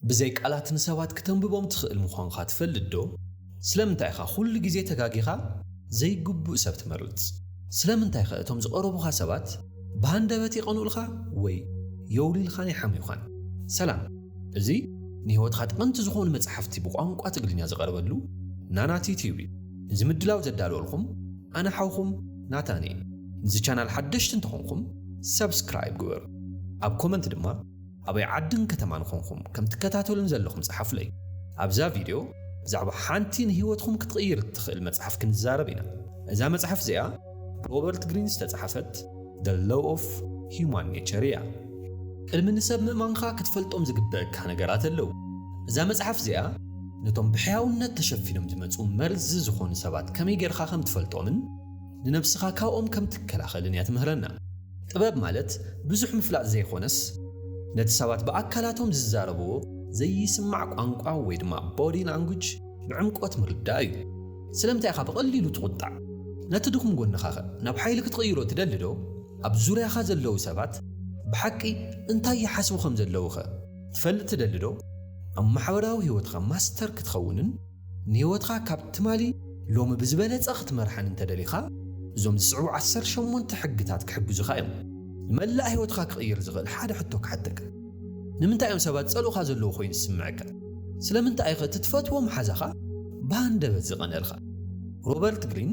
ብዘይ ቃላት ንሰባት ክተንብቦም ትኽእል ምዃንካ ትፈልጥዶ? ስለምንታይ ኢኻ ኵሉ ግዜ ተጋጊኻ ዘይግቡእ ሰብ ትመርጽ? ስለምንታይከ እቶም ዝቐረቡኻ ሰባት ብሃንደበት ይቐንኡልካ ወይ የውሊልኻን ይሓምዩኻን? ሰላም! እዚ ንህይወትካ ጠቐምቲ ዝኾኑ መጻሕፍቲ ብቋንቋ ትግርኛ ዝቐርበሉ ናና ቲዩብ እዩ። ነዚ ምድላው ዘዳለወልኩም ኣነ ሓውኩም ናታን እየ። ንዚ ቻናል ሓደሽቲ እንተኾንኩም ሳብስክራይብ ግበሩ። ኣብ ኮመንት ድማ ኣበይ ዓድን ከተማን ኾንኹም ከም ትከታተሉኒ ዘለኹም ጸሓፉለይ። ኣብዛ ቪድዮ ብዛዕባ ሓንቲ ንህይወትኹም ክትቕይር እትኽእል መጽሓፍ ክንዛረብ ኢና። እዛ መጽሓፍ እዚኣ ብሮበርት ግሪን ዝተጻሕፈት The Law of Human Nature እያ። ቅድሚ ንሰብ ምእማንካ ክትፈልጦም ዝግበእካ ነገራት ኣለዉ። እዛ መጽሓፍ እዚኣ ነቶም ብሕያውነት ተሸፊኖም ዝመጹ መርዚ ዝኾኑ ሰባት ከመይ ጌርካ ከም ትፈልጦምን፣ ንነብስኻ ካብኦም ከም ትከላኸልን እያ ትምህረና። ጥበብ ማለት ብዙሕ ምፍላጥ ዘይኾነስ ነቲ ሰባት ብኣካላቶም ዝዛረብዎ ዘይስማዕ ቋንቋ ወይ ድማ Body Language ብዕምቆት ምርዳእ እዩ። ስለምንታይ ኢኻ ብቐሊሉ ትቑጣዕ? ነቲ ድኹም ጎንኻኸ ናብ ሓይሊ ክትቕይሮ ትደሊዶ? ኣብ ዙርያኻ ዘለዉ ሰባት ብሓቂ እንታይ ይሓስቡ ከም ዘለዉኸ ትፈልጥ ትደሊዶ? ኣብ ማሕበራዊ ህይወትኻ ማስተር ክትኸውንን ንህይወትካ ካብ ትማሊ ሎሚ ብዝበለጸ ክትመርሓን እንተ ደሊኻ፣ እዞም ዝስዕቡ ዓሰርተ ሸሞንተ ሕግታት ክሕግዙኻ እዮም። ንመላእ ህይወትካ ክቕይር ዝኽእል ሓደ ሕቶ ክሓተካ፣ ንምንታይ እዮም ሰባት ዝጸልኡኻ ዘለዉ ኰይኑ ዝስምዓካ? ስለምንታይ'ኸ እቲ ትፈትዎ መሓዛኻ ብሃንደበት ዝቐንኣልካ? ሮበርት ግሪን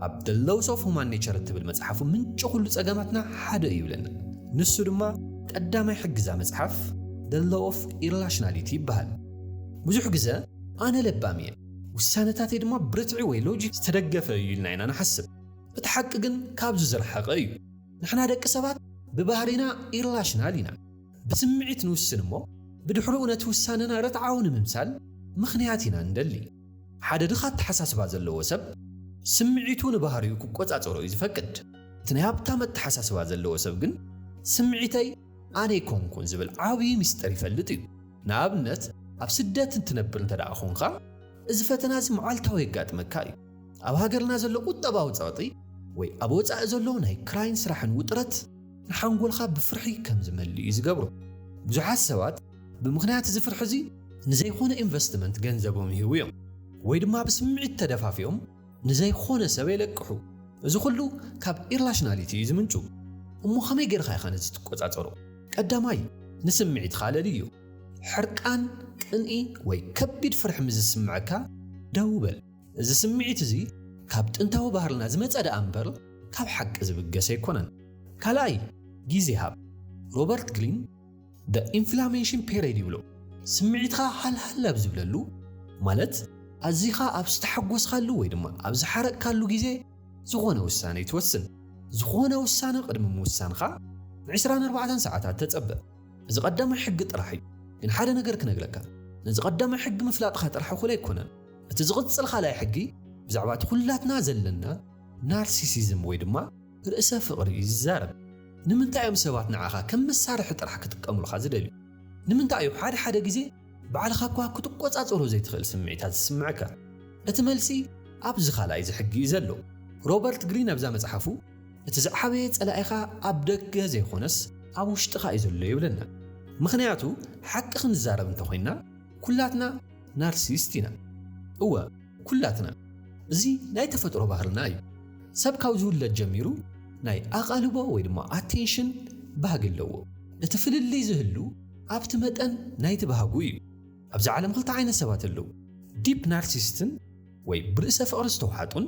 ኣብ The Laws of Human Nature እትብል መጽሓፉ ምንጪ ኵሉ ጸገማትና ሓደ እዩ ይብለና። ንሱ ድማ ቀዳማይ ሕጊ'ዛ መጽሓፍ The Law of Irrationality ይበሃል። ብዙሕ ግዘ ኣነ ለባም እየ፣ ውሳነታተይ ድማ ብርትዒ ወይ ሎጂክ ዝተደገፈ እዩ ኢልና ኢና ንሓስብ። እቲ ሓቂ ግን ካብዚ ዝረሓቐ እዩ። ንሕና ደቂ ሰባት ብባህሪና ኢርላሽናል ኢና። ብስምዒት ንውስን እሞ ብድሕርኡ ነቲ ውሳነና ርትዓዊ ንምምሳል ምኽንያት ኢና እንደሊ። ሓደ ድኻ ኣተሓሳስባ ዘለዎ ሰብ ስምዒቱ ንባህሪኡ ክቆፃፀሮ እዩ ዝፈቅድ። እቲ ናይ ሃብታም ኣተሓሳስባ ዘለዎ ሰብ ግን ስምዒተይ ኣነ ኣይኮንኩን ዝብል ዓብዪ ሚስጥር ይፈልጥ እዩ። ንኣብነት ኣብ ስደት እንትነብር እንተደኣ ኮንካ እዚ ፈተና እዚ መዓልታዊ የጋጥመካ እዩ። ኣብ ሃገርና ዘሎ ቁጠባዊ ጸቕጢ ወይ ኣብ ወጻኢ ዘሎ ናይ ክራይን ስራሕን ውጥረት ንሓንጎልካ ብፍርሒ ከም ዝመልእ እዩ ዝገብሮ። ብዙሓት ሰባት ብምኽንያት እዚ ፍርሒ እዚ ንዘይኮነ ኢንቨስትመንት ገንዘቦም ይህቡ እዮም ወይ ድማ ብስምዒት ተደፋፊኦም ንዘይኾነ ሰብ የለቅሑ። እዚ ኹሉ ካብ ኢርላሽናሊቲ እዩ ዝምንጩ። እሞ ከመይ ገይርካ ኢኻ ነዚ ትቆጻጸሮ? ቀዳማይ ንስምዒትኻ ለልዮ። ሕርቃን፣ ቅንኢ ወይ ከቢድ ፍርሒ ምስ ዝስምዐካ ደው በል። እዚ ስምዒት እዚ ካብ ጥንታዊ ባህልና ዝመጸ ደኣ እምበር ካብ ሓቂ ዝብገስ ኣይኮነን። ካልኣይ ግዜ ሃብ። ሮበርት ግሪን The Inflammation Period ይብሎ። ስምዒትካ ሃልሃል ኣብ ዝብለሉ ማለት ኣዚኻ ኣብ ዝተሓጎስካሉ ወይ ድማ ኣብ ዝሓረቅካሉ ግዜ ዝኾነ ውሳነ ይትወስን። ዝኾነ ውሳነ ቅድሚ ምውሳንካ ን ዕስራን ኣርባዕተን ሰዓታት ተጸበ። እዚ ቀዳማይ ሕጊ ጥራሕ እዩ። ግን ሓደ ነገር ክነግረካ ነዚ ቀዳማይ ሕጊ ምፍላጥካ ጥራሕ እኹል ኣይኮነን። እቲ ዝቕጽል ካልኣይ ሕጊ ብዛዕባ እቲ ኩላትና ዘለና ናርሲሲዝም ወይ ድማ ርእሰ ፍቕሪ እዩ ዚዛረብ። ንምንታይ እዮም ሰባት ንዓኻ ከም መሳርሒ ጥራሕ ኪጥቀሙልካ ዚደልዩ? ንምንታይ እዩ ሓደ ሓደ ግዜ ባዕልኻ እኳ ክትቈጻጸሮ ዘይትኽእል ስምዒታት ዚስምዓካ? እቲ መልሲ ኣብዚ ኻልኣይ እዚ ሕጊ እዩ ዘሎ። ሮበርት ግሪን ኣብዛ መጽሓፉ፣ እቲ ዝዓበየ ጸላኢኻ ኣብ ደገ ዘይኰነስ ኣብ ውሽጥኻ እዩ ዘሎ ይብለና። ምኽንያቱ፣ ሓቂ ኽንዛረብ እንተ ዄንና፣ ኵላትና ናርሲስት ኢና። እወ! ኩላትና እዚ ናይ ተፈጥሮ ባህርና እዩ። ሰብ ካብ ዝውለድ ጀሚሩ ናይ ኣቓልቦ ወይ ድማ ኣቴንሽን ባህጊ ኣለዎ። እቲ ፍልልይ ዝህሉ ኣብቲ መጠን ናይቲ ባህጉ እዩ። ኣብዛ ዓለም ክልተ ዓይነት ሰባት ኣለዉ፣ ዲፕ ናርሲስትን ወይ ብርእሰ ፍቕሪ ዝተውሓጡን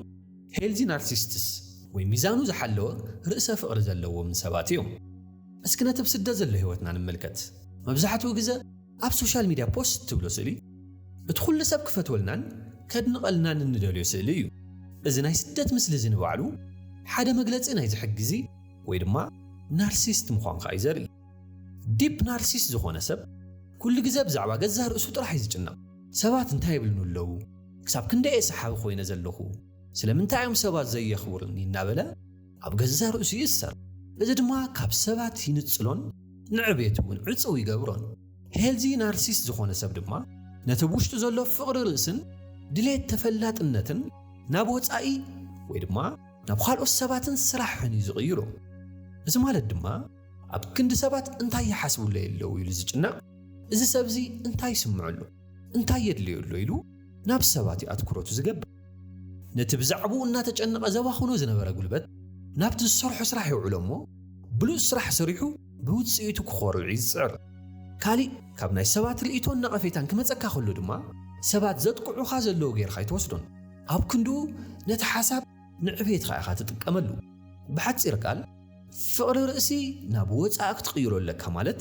ሄልዚ ናርሲስትስ ወይ ሚዛኑ ዝሓለወ ርእሰ ፍቕሪ ዘለዎምን ሰባት እዮም። እስኪ ነቲ ኣብ ስደት ዘሎ ህይወትና ንመልከት። መብዛሕትኡ ግዘ፣ ኣብ ሶሻል ሚድያ ፖስት ትብሎ ስእሊ እቲ ኩሉ ሰብ ክፈትወልናን ከድንቐልናን እንደልዮ ስእሊ እዩ። እዚ ናይ ስደት ምስሊ እዚ ንባዕሉ ሓደ መግለጺ ናይዚ ሕጊዚ ወይ ድማ ናርሲስት ምዃንካ እዩ ዘርኢ። ዲፕ ናርሲስት ዝኾነ ሰብ ኩሉ ግዘ ብዛዕባ ገዛእ ርእሱ ጥራሕ እዩ ዝጭነቕ። ሰባት እንታይ ይብሉኒ ኣለዉ? ክሳብ ክንደይ እየ ሰሓቢ ኮይነ ዘለኹ? ስለምንታይ እዮም ሰባት ዘየኽብሩኒ? እናበለ ኣብ ገዛእ ርእሱ ይእሰር፣ እዚ ድማ ካብ ሰባት ይንጽሎን ንዕቤቱ እውን ዕጽው ይገብሮን። ሄልዚ ናርሲስት ዝዀነ ሰብ ድማ ነቲ ብ ውሽጡ ዘሎ ፍቕሪ ርእስን ድሌት ተፈላጥነትን ናብ ወጻኢ ወይ ድማ ናብ ኻልኦት ሰባትን ስራሕን እዩ ዝቕይሮ። እዚ ማለት ድማ ኣብ ክንዲ ሰባት እንታይ ይሓስቡለይ ኣለዉ ኢሉ ዝጭነቕ፣ እዚ ሰብ እዚ እንታይ ይስምዖ ኣሎ፣ እንታይ የድልዮ ኣሎ ኢሉ ናብ ሰባት እዩ ኣትኵሮቱ ዝገብር። ነቲ ብዛዕባኡ እናተጨነቐ ዘባኽኖ ዝነበረ ጉልበት ናብቲ ዝሰርሖ ስራሕ የውዕሎ እሞ ብሉጽ ስራሕ ሰሪሑ ብውጽኢቱ ክኾርዕ እዩ ዝጽዕር። ካልእ ካብ ናይ ሰባት ርእይቶን ነቐፌታን ክመጸካ ከሎ ድማ ሰባት ዘጥቅዑኻ ዘለዉ ጌርካ ኣይትወስዶን። ኣብ ክንድኡ ነቲ ሓሳብ ንዕቤትካ ኢኻ ትጥቀመሉ። ብሓጺር ቃል ፍቕሪ ርእሲ ናብ ወጻኢ ክትቕይሮ ኣለካ ማለት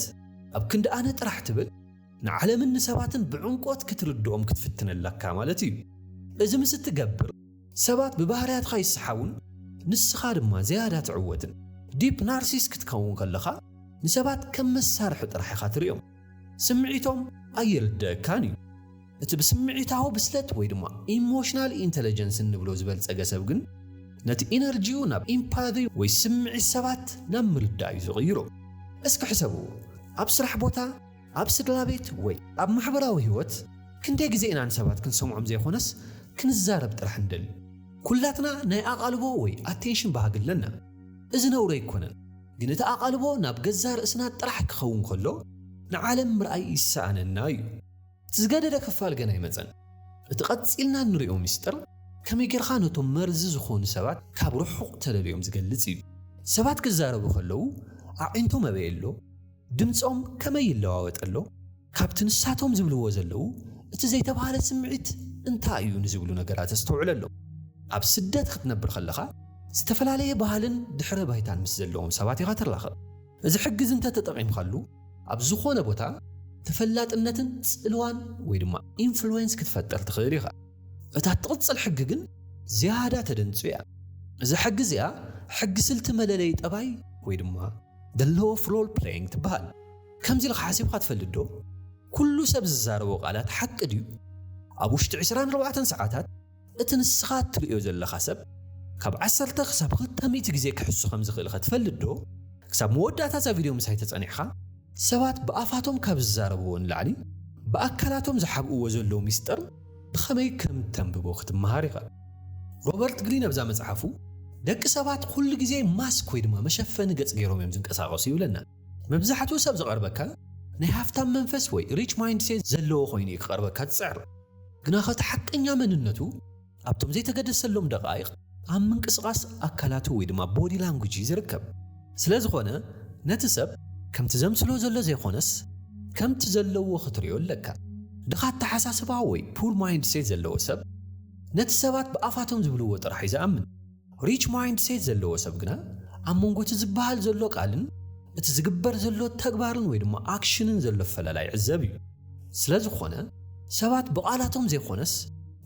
ኣብ ክንዲ ኣነ ጥራሕ ትብል፣ ንዓለምን ንሰባትን ብዕምቆት ክትርድኦም ክትፍትን ኣለካ ማለት እዩ። እዚ ምስ እትገብር፣ ሰባት ብባህርያትካ ይሰሓቡን ንስኻ ድማ ዝያዳ ትዕወትን። ዲፕ ናርሲስ ክትከውን ከለኻ፣ ንሰባት ከም መሳርሒ ጥራሕ ኢኻ ትርእዮም። ስምዒቶም ኣይርደኣካን እዩ። እቲ ብስምዒታዊ ብስለት ወይ ድማ ኢሞሽናል ኢንተለጀንስ እንብሎ ዝበልጸገ ሰብ ግን፣ ነቲ ኢነርጂኡ ናብ ኢምፓዚ ወይ ስምዒት ሰባት ናብ ምርዳእ እዩ ዝቕይሮ። እስኪ ሕሰብዎ፣ ኣብ ስራሕ ቦታ፣ ኣብ ስድራቤት ወይ ኣብ ማሕበራዊ ህይወት ክንደይ ግዜ ኢና ንሰባት ክንሰምዖም ዘይኮነስ ክንዛረብ ጥራሕ ንደሊ? ኩላትና ናይ ኣቓልቦ ወይ ኣቴንሽን ባህጊ ኣለና። እዚ ነውሪ ኣይኮነን፣ ግን እቲ ኣቓልቦ ናብ ገዛእ ርእስና ጥራሕ ክኸውን ከሎ ንዓለም ምርኣይ ይሰኣነና እዩ። እቲ ዝገደደ ክፋል ገና ኣይመጸን። እቲ ቀጺልና እንሪኦ ምስጢር ከመይ ጌርካ ነቶም መርዚ ዝኾኑ ሰባት ካብ ርሑቕ ተለልዮም ዝገልጽ እዩ። ሰባት ክዛረቡ ከለው ኣዒንቶም ኣበይ ኣሎ? ድምጾም ከመይ ይለዋወጥ ኣሎ? ካብቲ ንሳቶም ዝብልዎ ዘለዉ እቲ ዘይተባህለ ስምዒት እንታይ እዩ ንዝብሉ ነገራት ኣስተውዕለሎም። ኣብ ስደት ክትነብር ከለኻ ዝተፈላለየ ባህልን ድሕረ ባይታን ምስ ዘለዎም ሰባት ኢኻ ትራኸብ። እዚ ሕግ'ዚ እንተ ተጠቒምካሉ ኣብ ዝኾነ ቦታ ተፈላጥነትን ጽልዋን ወይ ድማ ኢንፍሉዌንስ ክትፈጥር ትኽእል ኢኻ። እታ እትቕጽል ሕጊ ግን ዝያዳ ተደንጹ እያ። እዛ ሕጊ እዚኣ ሕጊ ስልቲ መለለዪ ጠባይ ወይ ድማ። The Law of Role Playing ትበሃል። ከምዚ ኢልኻ ሓሲብካ ትፈልጥ ዶ? ኩሉ ሰብ ዝዛረቦ ቃላት ሓቂ ድዩ? ኣብ ውሽጢ ዕስራን ኣርባዕተን ሰዓታት እቲ ንስኻ እትርእዮ ዘለኻ ሰብ ካብ ዓሰርተ ክሳብ ክልተ ሚእቲ ግዜ ክሕሱ ከም ዝኽእልከ ትፈልጥ ዶ? ክሳብ መወዳእታ እዛ ቪድዮ ምሳይ ተጸኒዕካ ሰባት ብኣፋቶም ካብ ዝዛረብዎ ንላዕሊ ብኣካላቶም ዝሓብእዎ ዘለዉ ሚስጥር ብኸመይ ከም እተንብቦ ክትመሃር ኢኻ። ሮበርት ግሪን ኣብዛ መጽሓፉ፣ ደቂ ሰባት ዅሉ ግዜ ማስክ ወይ ድማ መሸፈኒ ገጽ ገይሮም እዮም ዝንቀሳቐሱ ይብለና። መብዛሕትኡ ሰብ ዝቐርበካ ናይ ሃፍታም መንፈስ ወይ ሪች ማይንድሴት ዘለዎ ዀይኑ እዩ ክቐርበካ ዝጽዕር። ግናኸ እቲ ሓቀኛ መንነቱ ኣብቶም ዘይተገደሰሎም ደቓይቕ ኣብ ምንቅስቓስ ኣካላቱ ወይ ድማ ቦዲ ላንጉጅ እዩ ዝርከብ። ስለዝኾነ ነቲ ሰብ ከምቲ ዘምስሎ ዘሎ ዘይኾነስ ከምቲ ዘለዎ ክትሪኦ ኣለካ። ድኻ ኣተሓሳስባ ወይ ፑር ማይንድ ሴት ዘለዎ ሰብ ነቲ ሰባት ብኣፋቶም ዝብልዎ ጥራሕ እዩ ዝኣምን። ሪች ማይንድ ሴት ዘለዎ ሰብ ግና ኣብ መንጎ እቲ ዝበሃል ዘሎ ቃልን እቲ ዝግበር ዘሎ ተግባርን ወይ ድማ ኣክሽንን ዘሎ ኣፈላላይ ይዕዘብ እዩ። ስለዝኾነ ሰባት ብቓላቶም ዘይኾነስ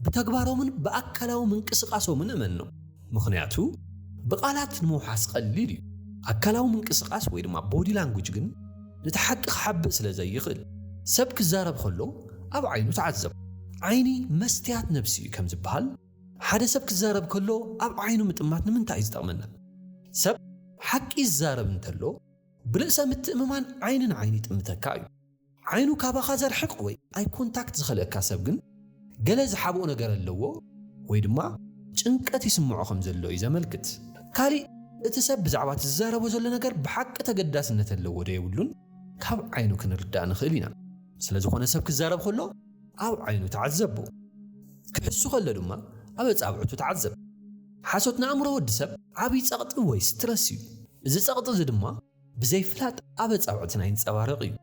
ብተግባሮምን ብኣካላዊ ምንቅስቓሶምን እመኖም። ምኽንያቱ ብቓላት ንምውሓስ ቀሊል እዩ፣ ኣካላዊ ምንቅስቓስ ወይ ድማ ቦዲ ላንጉጅ ግን ነቲ ሓቂ ክሓብእ ስለ ዘይኽእል። ሰብ ክዛረብ ከሎ ኣብ ዓይኑ ተዓዘብ። ዓይኒ መስትያት ነብሲ እዩ ከምዝበሃል፣ ሓደ ሰብ ክዛረብ ከሎ ኣብ ዓይኑ ምጥማት ንምንታይ እዩ ዝጠቕመና? ሰብ ሓቂ ይዛረብ እንተሎ ብርእሰ ምትእምማን ዓይኒ ንዓይኒ ይጥምተካ እዩ። ዓይኑ ካባኻ ዘርሕቕ ወይ ኣይ ኮንታክት ዝኸልእካ ሰብ ግን ገለ ዝሓብኦ ነገር ኣለዎ ወይ ድማ ጭንቀት ይስምዖ ከም ዘሎ እዩ ዘመልክት። ካልእ እቲ ሰብ ብዛዕባ እቲ ዝዛረቦ ዘሎ ነገር ብሓቂ ተገዳስነት ኣለዎ ዶ የብሉን ካብ ዓይኑ ክንርዳእ ንኽእል ኢና። ስለ ዝኾነ ሰብ ክዛረብ ከሎ ኣብ ዓይኑ ተዓዘቦ። ክሕሱ ከሎ ድማ ኣብ ኣጻብዕቱ ተዓዘብ። ሓሶት ንኣእምሮ ወዲ ሰብ ዓቢ ጸቕጢ ወይ ስትረስ እዩ። እዚ ጸቕጢ እዚ ድማ ብዘይፍላጥ ኣብ ኣጻብዕትና ይንጸባረቕ እዩ።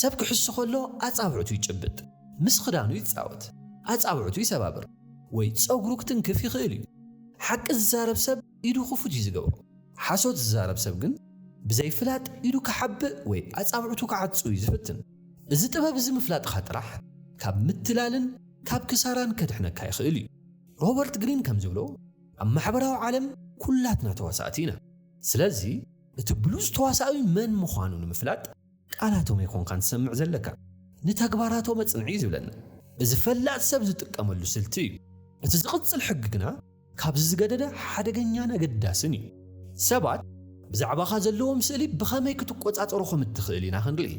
ሰብ ክሕሱ ከሎ ኣጻብዕቱ ይጭብጥ፣ ምስ ክዳኑ ይጻወት፣ ኣጻብዕቱ ይሰባብር ወይ ጸጉሩ ክትንክፍ ይኽእል እዩ። ሓቂ ዝዛረብ ሰብ ኢዱ ክፉት እዩ ዝገብሮ። ሓሶት ዝዛረብ ሰብ ግን ብዘይፍላጥ ኢዱ ክሓብእ ወይ ኣጻብዕቱ ክዓጹ እዩ ዝፍትን። እዚ ጥበብ እዚ ምፍላጥካ ጥራሕ ካብ ምትላልን ካብ ክሳራን ከድሕነካ ይኽእል እዩ። ሮበርት ግሪን ከም ዝብሎ ኣብ ማሕበራዊ ዓለም ኩላትና ተዋሳእቲ ኢና። ስለዚ። እቲ ብሉጽ ተዋሳኢ መን ምዃኑ ንምፍላጥ ቃላቶም ኣይኮንካን ትሰምዕ ዘለካ፣ ንተግባራቶም ኣጽንዕ'ዩ ዝብለና። እዚ ፈላጥ ሰብ ዝጥቀመሉ ስልቲ እዩ። እቲ ዝቕጽል ሕጊ ግና ካብዚ ዝገደደ ሓደገኛን ኣገዳስን እዩ። ሰባት ብዛዕባኻ ዘለዎም ስእሊ ብኸመይ ክትቆጻጸሮ ከም እትኽእል ኢና ክንርኢ።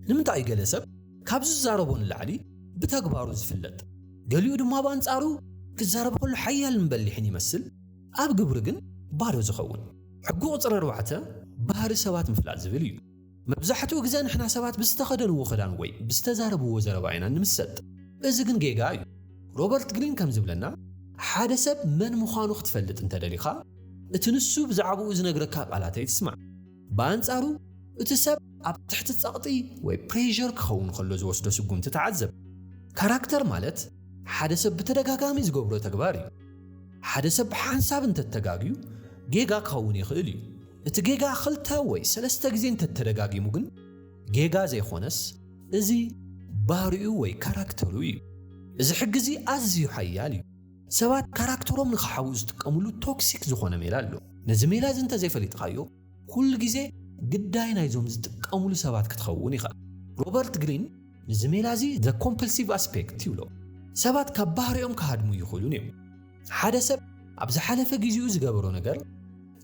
ንምንታይ እዩ ገለ ሰብ ካብ ዝዛረቦ ንላዕሊ ብተግባሩ ዝፍለጥ፣ ገሊኡ ድማ ብኣንጻሩ ክዛረብ ከሎ ሓያልን በሊሕን ይመስል? ኣብ ግብሪ ግን ባዶ ዝኸውን። ሕጊ ቁጽሪ ኣርባዕተ ባህሪ ሰባት ምፍላጥ ዝብል እዩ። መብዛሕትኡ ግዘ ንሕና ሰባት ብዝተኸደንዎ ክዳን ወይ ብዝተዛረብዎ ዘረባ ኢና እንምሰጥ። እዚ ግን ጌጋ እዩ። ሮበርት ግሪን ከም ዝብለና ሓደ ሰብ መን ምዃኑ ክትፈልጥ እንተደሊኻ እቲ ንሱ ብዛዕባኡ ዝነግረካ ቃላት ኣይትስማዕ። ብኣንጻሩ እቲ ሰብ ኣብ ትሕቲ ጸቕጢ ወይ ፕሬዠር ክኸውን ከሎ ዝወስዶ ስጉምቲ ተዓዘብ። ካራክተር ማለት ሓደ ሰብ ብተደጋጋሚ ዝገብሮ ተግባር እዩ። ሓደ ሰብ ብሓንሳብ እንተተጋግዩ ጌጋ ክኸውን ይኽእል እዩ። እቲ ጌጋ ክልተ ወይ ሰለስተ ግዜ እንተተደጋጊሙ ግን ጌጋ ዘይኾነስ እዚ ባህሪኡ ወይ ካራክተሩ እዩ። እዚ ሕጊ እዚ ኣዝዩ ሓያል እዩ። ሰባት ካራክተሮም ንኽሓብኡ ዝጥቀምሉ ቶክሲክ ዝኾነ ሜላ ኣሎ። ነዚ ሜላ እዚ እንተዘይፈሊጥኻዮ ኩሉ ግዜ ግዳይ ናይዞም ዝጥቀምሉ ሰባት ክትኸውን ኢኻ። ሮበርት ግሪን ንዚ ሜላ እዚ The Compulsive Aspect ይብሎ። ሰባት ካብ ባህሪኦም ክሃድሙ ይኽእሉን እዮም። ሓደ ሰብ ኣብ ዝሓለፈ ግዜኡ ዝገበሮ ነገር፣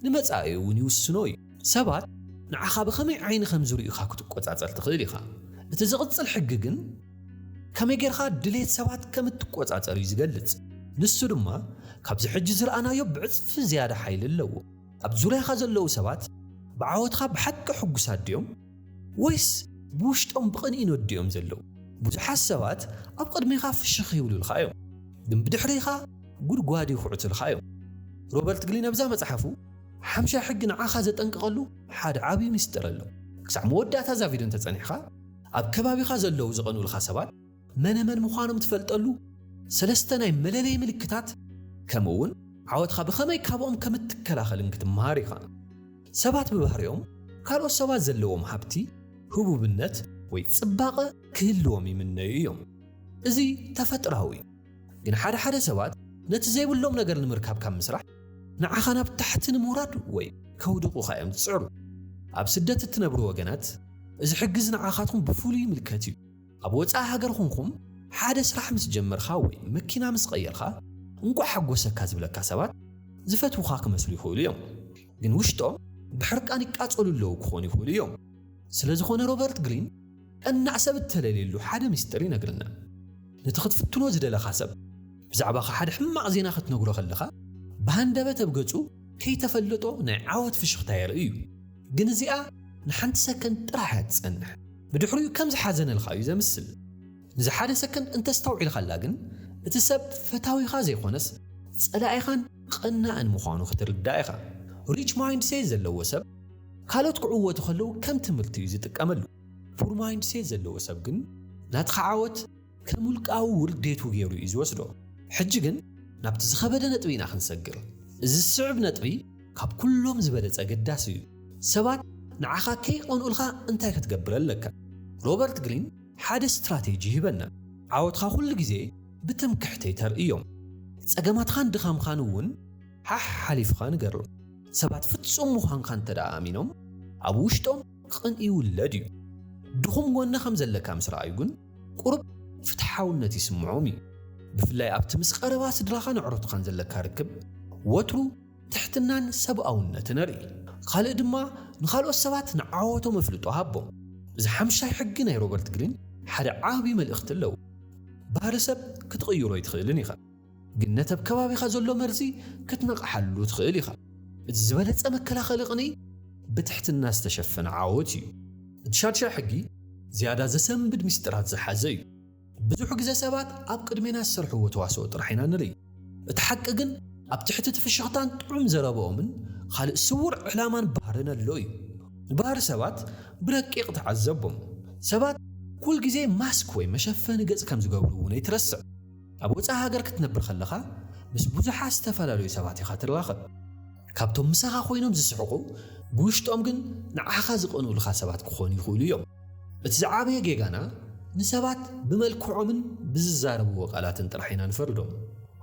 ንመጻኢኡ'ውን ይውስኖ እዩ። ሰባት ንዓኻ ብኸመይ ዓይኒ ከም ዝርእዩኻ ክትቈጻጸር ትኽእል ኢኻ። እቲ ዝቕጽል ሕጊ ግን ከመይ ጌርካ ድሌት ሰባት ከም እትቈጻጸር እዩ ዝገልጽ። ንሱ ድማ ካብዚ ሕጂ ዝረኣናዮ ብዕጽፊ ዝያዳ ሓይሊ ኣለዎ። ኣብ ዙርያኻ ዘለዉ ሰባት ብዓወትካ ብሓቂ ሕጉሳት ድዮም? ወይስ ብውሽጦም ብቕንኢ ነድዮም ዘለዉ? ብዙሓት ሰባት ኣብ ቕድሜኻ ፍሽኽ ይብሉልካ እዮም፣ ግን ብድሕሬኻ ጕድጓድ ይዅዕቱልካ እዮም። ሮበርት ግሊን ኣብዛ መጽሓፉ፣ ሓምሻይ ሕጊ ንዓኻ ዘጠንቅቐሉ ሓደ ዓብዪ ምስጢር ኣሎ። ክሳዕ መወዳእታ እዛ ቪድዮ እንተ ጸኒሕካ፣ ኣብ ከባቢኻ ዘለዉ ዝቐንኡልካ ሰባት መነመን ምዃኖም ትፈልጠሉ ሰለስተ ናይ መለለዪ ምልክታት፣ ከምኡ'ውን ዓወትኻ ብኸመይ ካብኦም ከም እትከላኸልን ክትመሃር ኢኻ። ሰባት ብባህሪኦም ካልኦት ሰባት ዘለዎም ሃብቲ፣ ህቡብነት ወይ ጽባቐ ክህልዎም ይምነዩ እዮም። እዚ ተፈጥሮኣዊ እዩ። ግን ሓደ ሓደ ሰባት ነቲ ዘይብሎም ነገር ንምርካብ ካብ ምስራሕ፣ ንዓኻ ናብ ታሕቲ ንምውራድ ወይ ከውድቑኻ እዮም ዝጽዕሩ። ኣብ ስደት እትነብሩ ወገናት፣ እዚ ሕግ'ዚ ንዓኻትኩም ብፍሉይ ይምልከት እዩ። ኣብ ወጻኢ ሃገር ኹንኩም ሓደ ስራሕ ምስ ጀመርኻ ወይ መኪና ምስ ቐየርኻ እንቋዕ ሓጎሰካ ዝብለካ ሰባት ዝፈትዉኻ ክመስሉ ይኽእሉ እዮም ግን ውሽጦም ብሕርቃን ይቃጸሉ ኣለዉ ክኾኑ ይኽእሉ እዮም ስለዝኾነ ሮበርት ግሪን ቀናእ ሰብ እተለልየሉ ሓደ ምስጢር ይነግረና ነቲ ክትፍትኖ ዝደለኻ ሰብ ብዛዕባኻ ሓደ ሕማቕ ዜና ክትነግሮ ከለኻ ብሃንደበት ኣብ ገጹ ከይተፈለጦ ናይ ዓወት ፍሽኽታ የርኢ እዩ። ግን እዚኣ ንሓንቲ ሰከንድ ጥራሕ እያ ትጸንሕ፣ ብድሕሪኡ ከም ዝሓዘነልካ እዩ ዘምስል። ንዝሓደ ሰከንድ እንተ ኣስተውዒልካላ ግን፣ እቲ ሰብ ፈታዊኻ ዘይኮነስ ጸላኢኻን ቐናእን ምዃኑ ክትርዳእ ኢኻ። ሪች ማይንድሴት ዘለዎ ሰብ ካልኦት ክዕወቱ ከለዉ ከም ትምህርቲ እዩ ዝጥቀመሉ። ፑር ማይንድሴት ዘለዎ ሰብ ግን ናትኻ ዓወት ከም ውልቃዊ ውርዴቱ ገይሩ እዩ ዝወስዶ። ሕጂ ግን ናብቲ ዝኸበደ ነጥቢ ኢና ክንሰግር። እዚ ዝስዕብ ነጥቢ ካብ ኩሎም ዝበለጸ ኣገዳሲ እዩ። ሰባት ንዓኻ ከይቐንኡልካ እንታይ ክትገብር ኣለካ? ሮበርት ግሪን ሓደ ስትራቴጂ ይህበና፣ ዓወትካ ኩሉ ግዜ ብትምክሕቲ ኣይተርእዮም። ጸገማትካን ድኻምካን እውን ሓሕ ሓሊፍኻ ንገሮም። ሰባት ፍጹም ምዃንካ እንተድኣ ኣሚኖም ኣብ ውሽጦም ቕንኢ ውለድ እዩ። ድኹም ጎኒ ከም ዘለካ ምስ ረኣዩ ግን ቁሩብ ፍትሓውነት ይስምዖም እዩ። ብፍላይ ኣብቲ ምስ ቐረባ ስድራኻን ኣዕሩኽትኻን ዘለካ ርክብ ወትሩ ትሕትናን ሰብኣውነትን ኣርኢ። ኻልእ ድማ ንኻልኦት ሰባት ንዓወቶም ኣፍልጦ ሃቦም። እዚ ሓምሻይ ሕጊ ናይ ሮበርት ግሪን ሓደ ዓቢ መልእኽቲ ኣለዎ፣ ባህሪ ሰብ ክትቕይሮ ኣይትኽእልን ኢኻ። ግን ነቲ ኣብ ከባቢኻ ዘሎ መርዚ ክትነቕሓሉ ትኽእል ኢኻ። እቲ ዝበለጸ መከላኸሊ ቕንኢ ብትሕትና ዝተሸፈነ ዓወት እዩ። እቲ ሻድሻይ ሕጊ ዝያዳ ዘሰንብድ ምስጢራት ዝሓዘ እዩ። ብዙሕ ግዘ ሰባት ኣብ ቅድሜና ዝሰርሕዎ ተዋስኦ ጥራሕ ኢና ንርኢ። እቲ ሓቂ ግን ኣብ ትሕቲ እቲ ፍሽኽታን ጥዑም ዘረበኦምን ኻልእ ስውር ዕላማን ባህርን ኣሎ እዩ። ንባህሪ ሰባት ብረቂቕ ተዓዘቦም። ሰባት ኩልግዜ ማስክ ወይ መሸፈኒ ገጽ ከም ዝገብሩ እውን ኣይትረስዕ። ኣብ ወጻኢ ሃገር ክትነብር ከለኻ ምስ ብዙሓት ዝተፈላለዩ ሰባት ኢኻ ትራኸብ። ካብቶም ምሳኻ ኮይኖም ዝስሕቑ ብውሽጦም ግን ንዓኻ ዝቐንኡልኻ ሰባት ክኾኑ ይኽእሉ እዮም። እቲ ዝዓበየ ጌጋና ንሰባት ብመልክዖምን ብዝዛረብዎ ቃላትን ጥራሕ ኢና ንፈርዶም።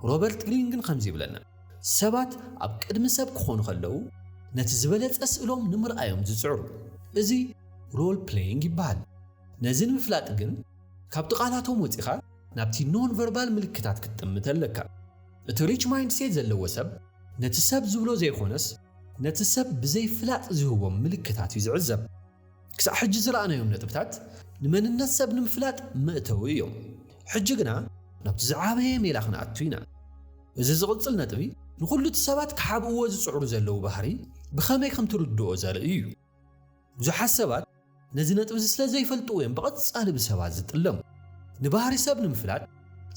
ሮበርት ግሪን ግን ከምዚ ይብለና፣ ሰባት ኣብ ቅድሚ ሰብ ክኾኑ ከለዉ ነቲ ዝበለጸ ስእሎም ንምርኣይ እዮም ዝጽዕሩ። እዚ ሮል-ፕለይንግ ይበሃል። ነዚ ንምፍላጥ ግን ካብቲ ቃላቶም ወጺኻ፣ ናብቲ ኖንቨርባል ምልክታት ክትጥምት ኣለካ። እቲ ሪች ማይንድሴት ዘለዎ ሰብ ነቲ ሰብ ዝብሎ ዘይኾነስ ነቲ ሰብ ብዘይፍላጥ ዝህቦም ምልክታት እዩ ዝዕዘብ። ክሳዕ ሕጂ ዝረኣናዮም ነጥብታት ንመንነት ሰብ ንምፍላጥ መእተዊ እዮም። ሕጂ ግና ናብቲ ዝዓበየ ሜላ ክንኣቱ ኢና። እዚ ዝቕጽል ነጥቢ ንኹሉ እቲ ሰባት ክሓብእዎ ዝጽዕሩ ዘለዉ ባህሪ ብኸመይ ከም ትርድኦ ዘርኢ እዩ። ብዙሓት ሰባት ነዚ ነጥቢዚ ስለ ዘይፈልጥዎ እዮም ብቐጻሊ ብሰባት ዝጥለሙ። ንባህሪ ሰብ ንምፍላጥ፣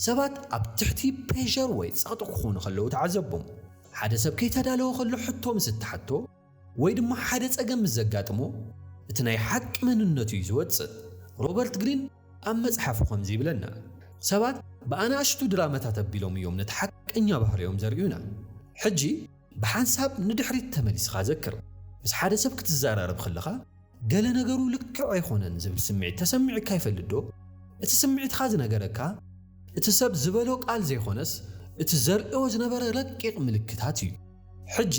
ሰባት ኣብ ትሕቲ ፕሬሸር ወይ ጸቕጢ ክኾኑ ከለዉ ተዓዘቦም። ሓደ ሰብ ከይተዳለወ ከሎ ሕቶ ምስ እትሓቶ ወይ ድማ ሓደ ጸገም ምስ ዘጋጥሞ እቲ ናይ ሓቂ መንነቱ እዩ ዝወጽእ። ሮበርት ግሪን ኣብ መጽሓፉ ከምዚ ይብለና፣ ሰባት ብኣናእሽቱ ድራመታት ኣቢሎም እዮም ነቲ ሓቀኛ ባህርዮም ዘርእዩና። ሕጂ፣ ብሓንሳብ ንድሕሪት ተመሊስኻ ዘክር። ምስ ሓደ ሰብ ክትዘራረብ ከለኻ፣ ገለ ነገሩ ልክዕ ኣይኮነን ዝብል ስምዒት ተሰሚዑካ ይፈልጥዶ? እቲ ስምዒትካ ዝነገረካ፣ እቲ ሰብ ዝበሎ ቃል ዘይኮነስ እቲ ዘርእዮ ዝነበረ ረቂቕ ምልክታት እዩ። ሕጂ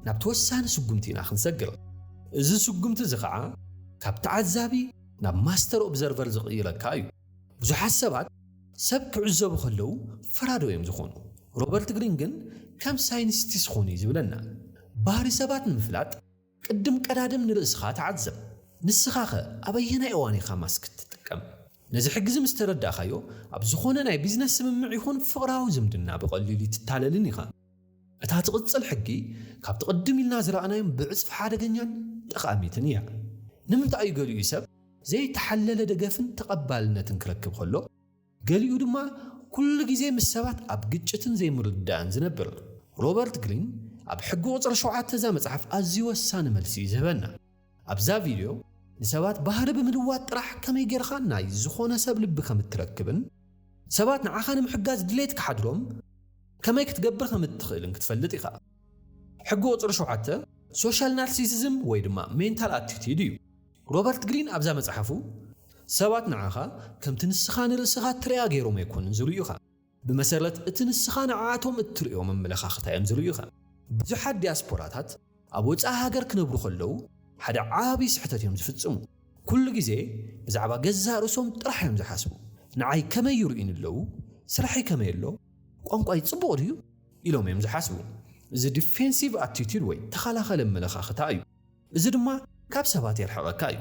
ናብቲ ወሳኒ ስጉምቲ ኢና ክንሰግር። እዚ ስጉምቲ እዚ ኸኣ ካብ ተዓዛቢ ናብ ማስተር ኦብዘርቨር ዝቕይረካ እዩ። ብዙሓት ሰባት ሰብ ክዕዘቡ ከለዉ ፈራዶ እዮም ዝኾኑ። ሮበርት ግሪን ግን ከም ሳይንስቲስ ኹን እዩ ዝብለና። ባህሪ ሰባት ንምፍላጥ ቅድም ቀዳድም ንርእስኻ ተዓዘብ። ንስኻኸ ኣብ ኣየናይ እዋን ኢኻ ማስክ እትጥቀም? ነዚ ሕጊዚ ምስ ተረዳእካዮ ኣብ ዝኾነ ናይ ቢዝነስ ስምምዕ ይኹን ፍቕራዊ ዝምድና ብቐሊሉ ኣይትታለልን ኢኻ። እታ ትቕጽል ሕጊ ካብቲ ቅድም ኢልና ዝረኣናዮም ብዕጽፊ ሓደገኛን ጠቓሚትን እያ። ንምንታይ እዩ ገሊኡ ሰብ ዘይተሓለለ ደገፍን ተቐባልነትን ክረክብ ከሎ፣ ገሊኡ ድማ ኩሉ ግዜ ምስ ሰባት ኣብ ግጭትን ዘይምርድዳእን ዝነብር? ሮበርት ግሪን ኣብ ሕጊ ቁጽሪ ሸውዓተ እዛ መጽሓፍ ኣዝዩ ወሳኒ መልሲ እዩ ዝህበና። ኣብዛ ቪድዮ፣ ንሰባት ባህሪ ብምልዋጥ ጥራሕ ከመይ ጌርካ ናይ ዝኾነ ሰብ ልቢ ከም እትረክብን ሰባት ንዓኻ ንምሕጋዝ ድሌት ክሓድሮም ከመይ ክትገብር ከም እትኽእልን ክትፈልጥ ኢኻ። ሕጊ ቁጽሪ ሸውዓተ ሶሻል ናርሲሲዝም ወይ ድማ ሜንታል ኣቲቲድ እዩ። ሮበርት ግሪን ኣብዛ መጽሓፉ፣ ሰባት ንዓኻ ከምቲ ንስኻ ንርእስኻ እትርእያ ገይሮም ኣይኮኑን ዝርእዩኻ። ብመሰረት እቲ ንስኻ ንዓኣቶም እትርእዮ መመለኻኽታ እዮም ዝርእዩኻ። ብዙሓት ዲያስፖራታት ኣብ ወጻኢ ሃገር ክነብሩ ከለዉ ሓደ ዓቢ ስሕተት እዮም ዝፍጽሙ። ኩሉ ግዜ ብዛዕባ ገዛእ ርእሶም ጥራሕ እዮም ዝሓስቡ። ንዓይ ከመይ ይርእዩኒ ኣለዉ? ስራሕይ ከመይ ኣሎ? ቋንቋይ ጽቡቕ ድዩ? ኢሎም እዮም ዝሓስቡ። እዚ ዲፌንሲቭ ኣቲቱድ ወይ ተኸላኸሊ ኣመለኻኽታ እዩ። እዚ ድማ ካብ ሰባት የርሕቐካ እዩ።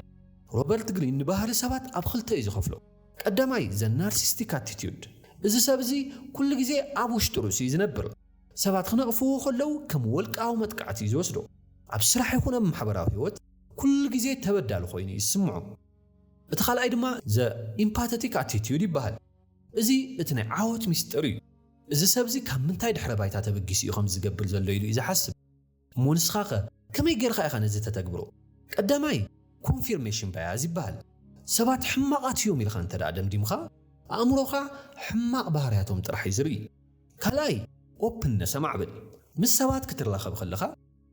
ሮበርት ግሪን ንባህሪ ሰባት ኣብ ኽልተ እዩ ዝኸፍሎ። ቀዳማይ the narcissistic attitude እዚ ሰብ እዚ ኩሉ ግዜ ኣብ ውሽጢ ርእሱ እዩ ዝነብር። ሰባት ክነቕፍዎ ከለው ከም ወልቃዊ መጥቃዕቲ እዩ ዝወስዶ። ኣብ ስራሕ ይኹን ኣብ ማሕበራዊ ህይወት ኩሉ ግዜ ተበዳሊ ኮይኑ እዩ ዝስምዖ። እቲ ካልኣይ ድማ the empathetic attitude ይበሃል። እዚ እቲ ናይ ዓወት ሚስጥር እዩ። እዚ ሰብ እዚ ካብ ምንታይ ድሕረ ባይታ ተበጊሱ እዩ ከምዚ ዝገብር ዘሎ ኢሉ እዩ ዝሓስብ። እሞ ንስኻኸ ከመይ ጌርኻ ኢኻ ነዚ እተተግብሮ? ቀዳማይ፣ ኮንፊርሜሽን ባያዝ ይበሃል። ሰባት ሕማቓት እዮም ኢልካ እንተ ደኣ ደምዲምካ፣ ኣእምሮኻ ሕማቕ ባህርያቶም ጥራሕ እዩ ዝርኢ። ካልኣይ፣ ኦፕንነስ ኣማዕብል። ምስ ሰባት ክትራኸብ ከለኻ፣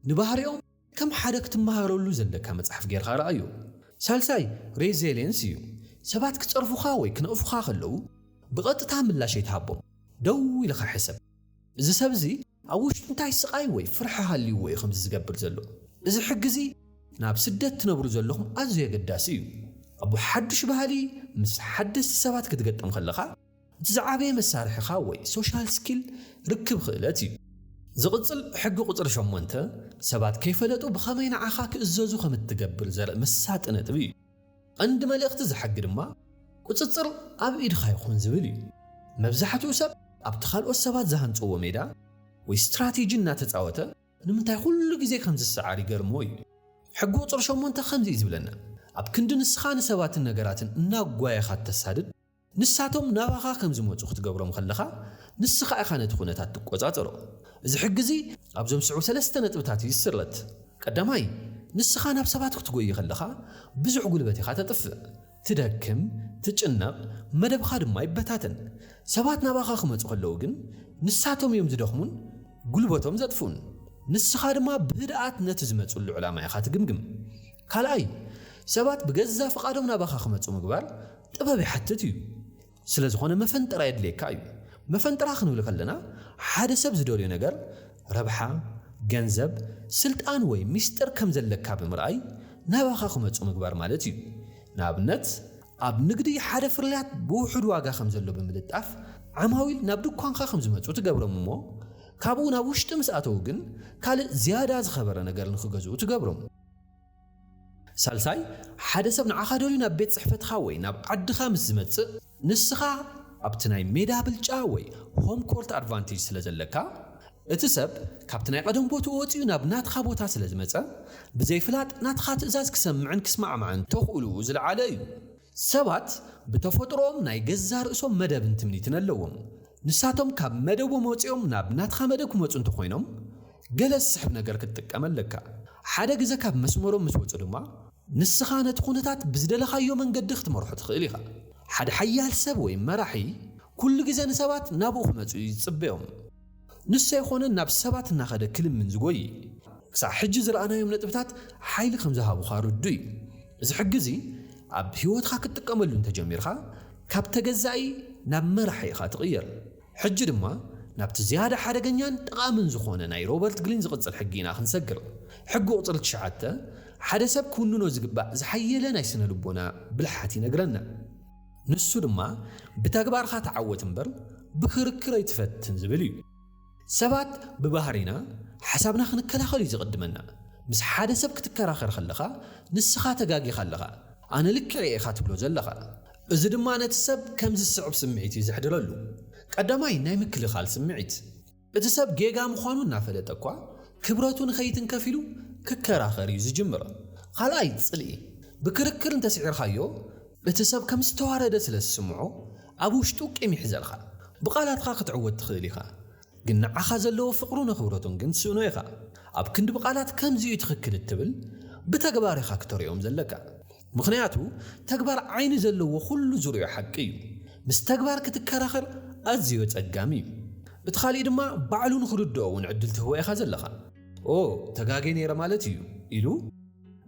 ንባህሪኦም ከም ሓደ ክትመሃረሉ ዘለካ መጽሓፍ ጌርካ ርኣዮ። ሳልሳይ፣ ሬዘሌንስ እዩ። ሰባት ክጸርፉኻ ወይ ክነቕፉኻ ከለዉ፣ ብቐጥታ ምላሽ ኣይትሃቦም። ደው ኢልኻ ሕሰብ፣ እዚ ሰብ እዚ፣ ኣብ ውሽጡ እንታይ ስቓይ ወይ ፍርሒ ሃልይዎ እዩ ከምዚ ዝገብር ዘሎ? እዚ ሕጊ እዚ ናብ ስደት ትነብሩ ዘለኹም ኣዝዩ ኣገዳሲ እዩ። ኣብ ሓዱሽ ባህሊ ምስ ሓደስቲ ሰባት ክትገጥም ከለኻ፣ እቲ ዝዓበየ መሳርሒኻ ወይ ሶሻል ስኪል ርክብ ክእለት እዩ። ዝቕጽል ሕጊ ቁጽሪ ሸሞንተ፣ ሰባት ከይፈለጡ ብኸመይ ንዓኻ ክእዘዙ ከም እትገብር ዘርኢ መሳጢ ነጥቢ እዩ። ቐንዲ መልእኽቲ እዚ ሕጊ ድማ ቁፅፅር ኣብ ኢድኻ ይኹን ዝብል እዩ። መብዛሕትኡ ሰብ ኣብቲ ካልኦት ሰባት ዝሃንፅዎ ሜዳ ወይ ስትራቴጂ እናተፃወተ ንምንታይ ኹሉ ግዜ ከም ዝሰዓር ይገርሞ እዩ። ሕጊ ቁፅሪ ሸሞንተ ከምዚ እዩ ዝብለና፣ ኣብ ክንዲ ንስኻ ንሰባትን ነገራትን እናጓየኻ እተሳድድ፣ ንሳቶም ናባኻ ከም ዝመጹ ክትገብሮም ከለኻ፣ ንስኻ ኢኻ ነቲ ኵነታት ትቈጻጸሮ። እዚ ሕጊ እዚ ኣብዞም ዝስዕቡ ሰለስተ ነጥብታት እዩ ዝስረት። ቀዳማይ፣ ንስኻ ናብ ሰባት ክትጐዪ ከለኻ ብዙሕ ጕልበት ኢኻ ተጥፍእ። ትደክም፣ ትጭነቕ፣ መደብኻ ድማ ይበታተን። ሰባት ናባኻ ክመጹ ከለዉ ግን፣ ንሳቶም እዮም ዝደኽሙን ጕልበቶም ዘጥፍኡን። ንስኻ ድማ ብህድኣት ነቲ ዝመጽሉ ዕላማ ኢኻ ትግምግም። ካልኣይ፣ ሰባት ብገዛእ ፍቓዶም ናባኻ ክመጹ ምግባር ጥበብ ይሓትት እዩ። ስለ ዝኾነ መፈንጠራ የድልየካ እዩ። መፈንጠራ ክንብል ከለና ሓደ ሰብ ዝደልዮ ነገር፣ ረብሓ፣ ገንዘብ፣ ስልጣን ወይ ሚስጥር ከም ዘለካ ብምርኣይ ናባኻ ክመጹ ምግባር ማለት እዩ። ንኣብነት ኣብ ንግዲ ሓደ ፍርያት ብውሑድ ዋጋ ከም ዘሎ ብምልጣፍ ዓማዊል ናብ ድኳንካ ከም ዝመጹ ትገብሮም እሞ ካብኡ ናብ ውሽጢ ምስ ኣተዉ ግን ካልእ ዝያዳ ዝኸበረ ነገር ንክገዝኡ ትገብሮም። ሳልሳይ፣ ሓደ ሰብ ንዓኻ ደልዩ ናብ ቤት ጽሕፈትኻ ወይ ናብ ዓድኻ ምስ ዝመጽእ፣ ንስኻ ኣብቲ ናይ ሜዳ ብልጫ ወይ ሆም ኮርት ኣድቫንቴጅ ስለ ዘለካ፣ እቲ ሰብ ካብቲ ናይ ቐደም ቦትኡ ወጺኡ ናብ ናትኻ ቦታ ስለ ዝመጸ፣ ብዘይፍላጥ ናትኻ ትእዛዝ ክሰምዕን ክስማዕማዕን ተኽእልኡ ዝለዓለ እዩ። ሰባት ብተፈጥሮኦም ናይ ገዛእ ርእሶም መደብን ትምኒትን ኣለዎም። ንሳቶም ካብ መደቦም ወጺኦም ናብ ናትኻ መደብ ክመጹ እንተ ኾይኖም፣ ገለ ዝስሕብ ነገር ክትጥቀም ኣለካ። ሓደ ግዘ ካብ መስመሮም ምስ ወጹ ድማ፣ ንስኻ ነቲ ኩነታት ብዝደለኻዮ መንገዲ ክትመርሖ ትኽእል ኢኻ። ሓደ ሓያል ሰብ ወይ መራሒ ኩሉ ግዘ ንሰባት ናብኡ ክመጹ እዩ ዝጽበዮም። ንሱ ኣይኮነን ናብ ሰባት እናኸደ ክልምን ዝጎዪ። ክሳዕ ሕጂ ዝረኣናዮም ነጥብታት ሓይሊ ከም ዝሃቡኻ ርዱእ እዩ። እዚ ሕጊ እዚ ኣብ ህይወትካ ክትጥቀመሉ እንተ ጀሚርካ፣ ካብ ተገዛኢ ናብ መራሒ ኢኻ ትቕየር። ሕጂ ድማ ናብቲ ዝያዳ ሓደገኛን ጠቓምን ዝኾነ ናይ ሮበርት ግሪን ዝቕጽል ሕጊ ኢና ክንሰግር። ሕጊ ቁጽሪ ትሽዓተ፣ ሓደ ሰብ ክውንኖ ዝግባእ ዝሓየለ ናይ ስነ-ልቦና ብልሓት ይነግረና። ንሱ ድማ ብተግባርካ ተዓወት እምበር ብክርክር ኣይትፈትን ዝብል እዩ። ሰባት ብባህሪና ሓሳብና ክንከላኸል እዩ ዝቕድመና። ምስ ሓደ ሰብ ክትከራኸር ከለኻ ንስኻ ተጋጊኻ ኣለኻ፣ ኣነ ልክዕ እየ ኢኻ ትብሎ ዘለኻ። እዚ ድማ ነቲ ሰብ ከምዚ ዝስዕብ ስምዒት እዩ ዘሕድረሉ፣ ቀዳማይ ናይ ምክልኻል ስምዒት። እቲ ሰብ ጌጋ ምዃኑ እናፈለጠ እኳ፣ ክብረቱ ንኸይትንከፍ ኢሉ ክከራኸር እዩ ዝጅምር። ኻልኣይ ጽልኢ፣ ብክርክር እንተ ስዒርካዮ፣ እቲ ሰብ ከም ዝተዋረደ ስለ ዝስምዖ፣ ኣብ ውሽጡ ቂም ይሕዘልካ። ብቓላትካ ክትዕወት ትኽእል ኢኻ፣ ግን ንዓኻ ዘለዎ ፍቕሩን ኣኽብሮቱን ግን ትስእኖ ኢኻ። ኣብ ክንዲ ብቓላት ከምዚ እዩ ትኽክል እትብል፣ ብተግባር ኢኻ ክተርእዮም ዘለካ። ምኽንያቱ ተግባር ዓይኒ ዘለዎ ኩሉ ዝርእዮ ሓቂ እዩ። ምስ ተግባር ክትከራኸር ኣዝዮ ኣጸጋሚ እዩ። እቲ ካልእ ድማ ባዕሉ ንኽርድኦ እውን ዕድል ትህቦ ኢኻ ዘለኻ። ኦ ተጋግየ ነይረ ማለት እዩ ኢሉ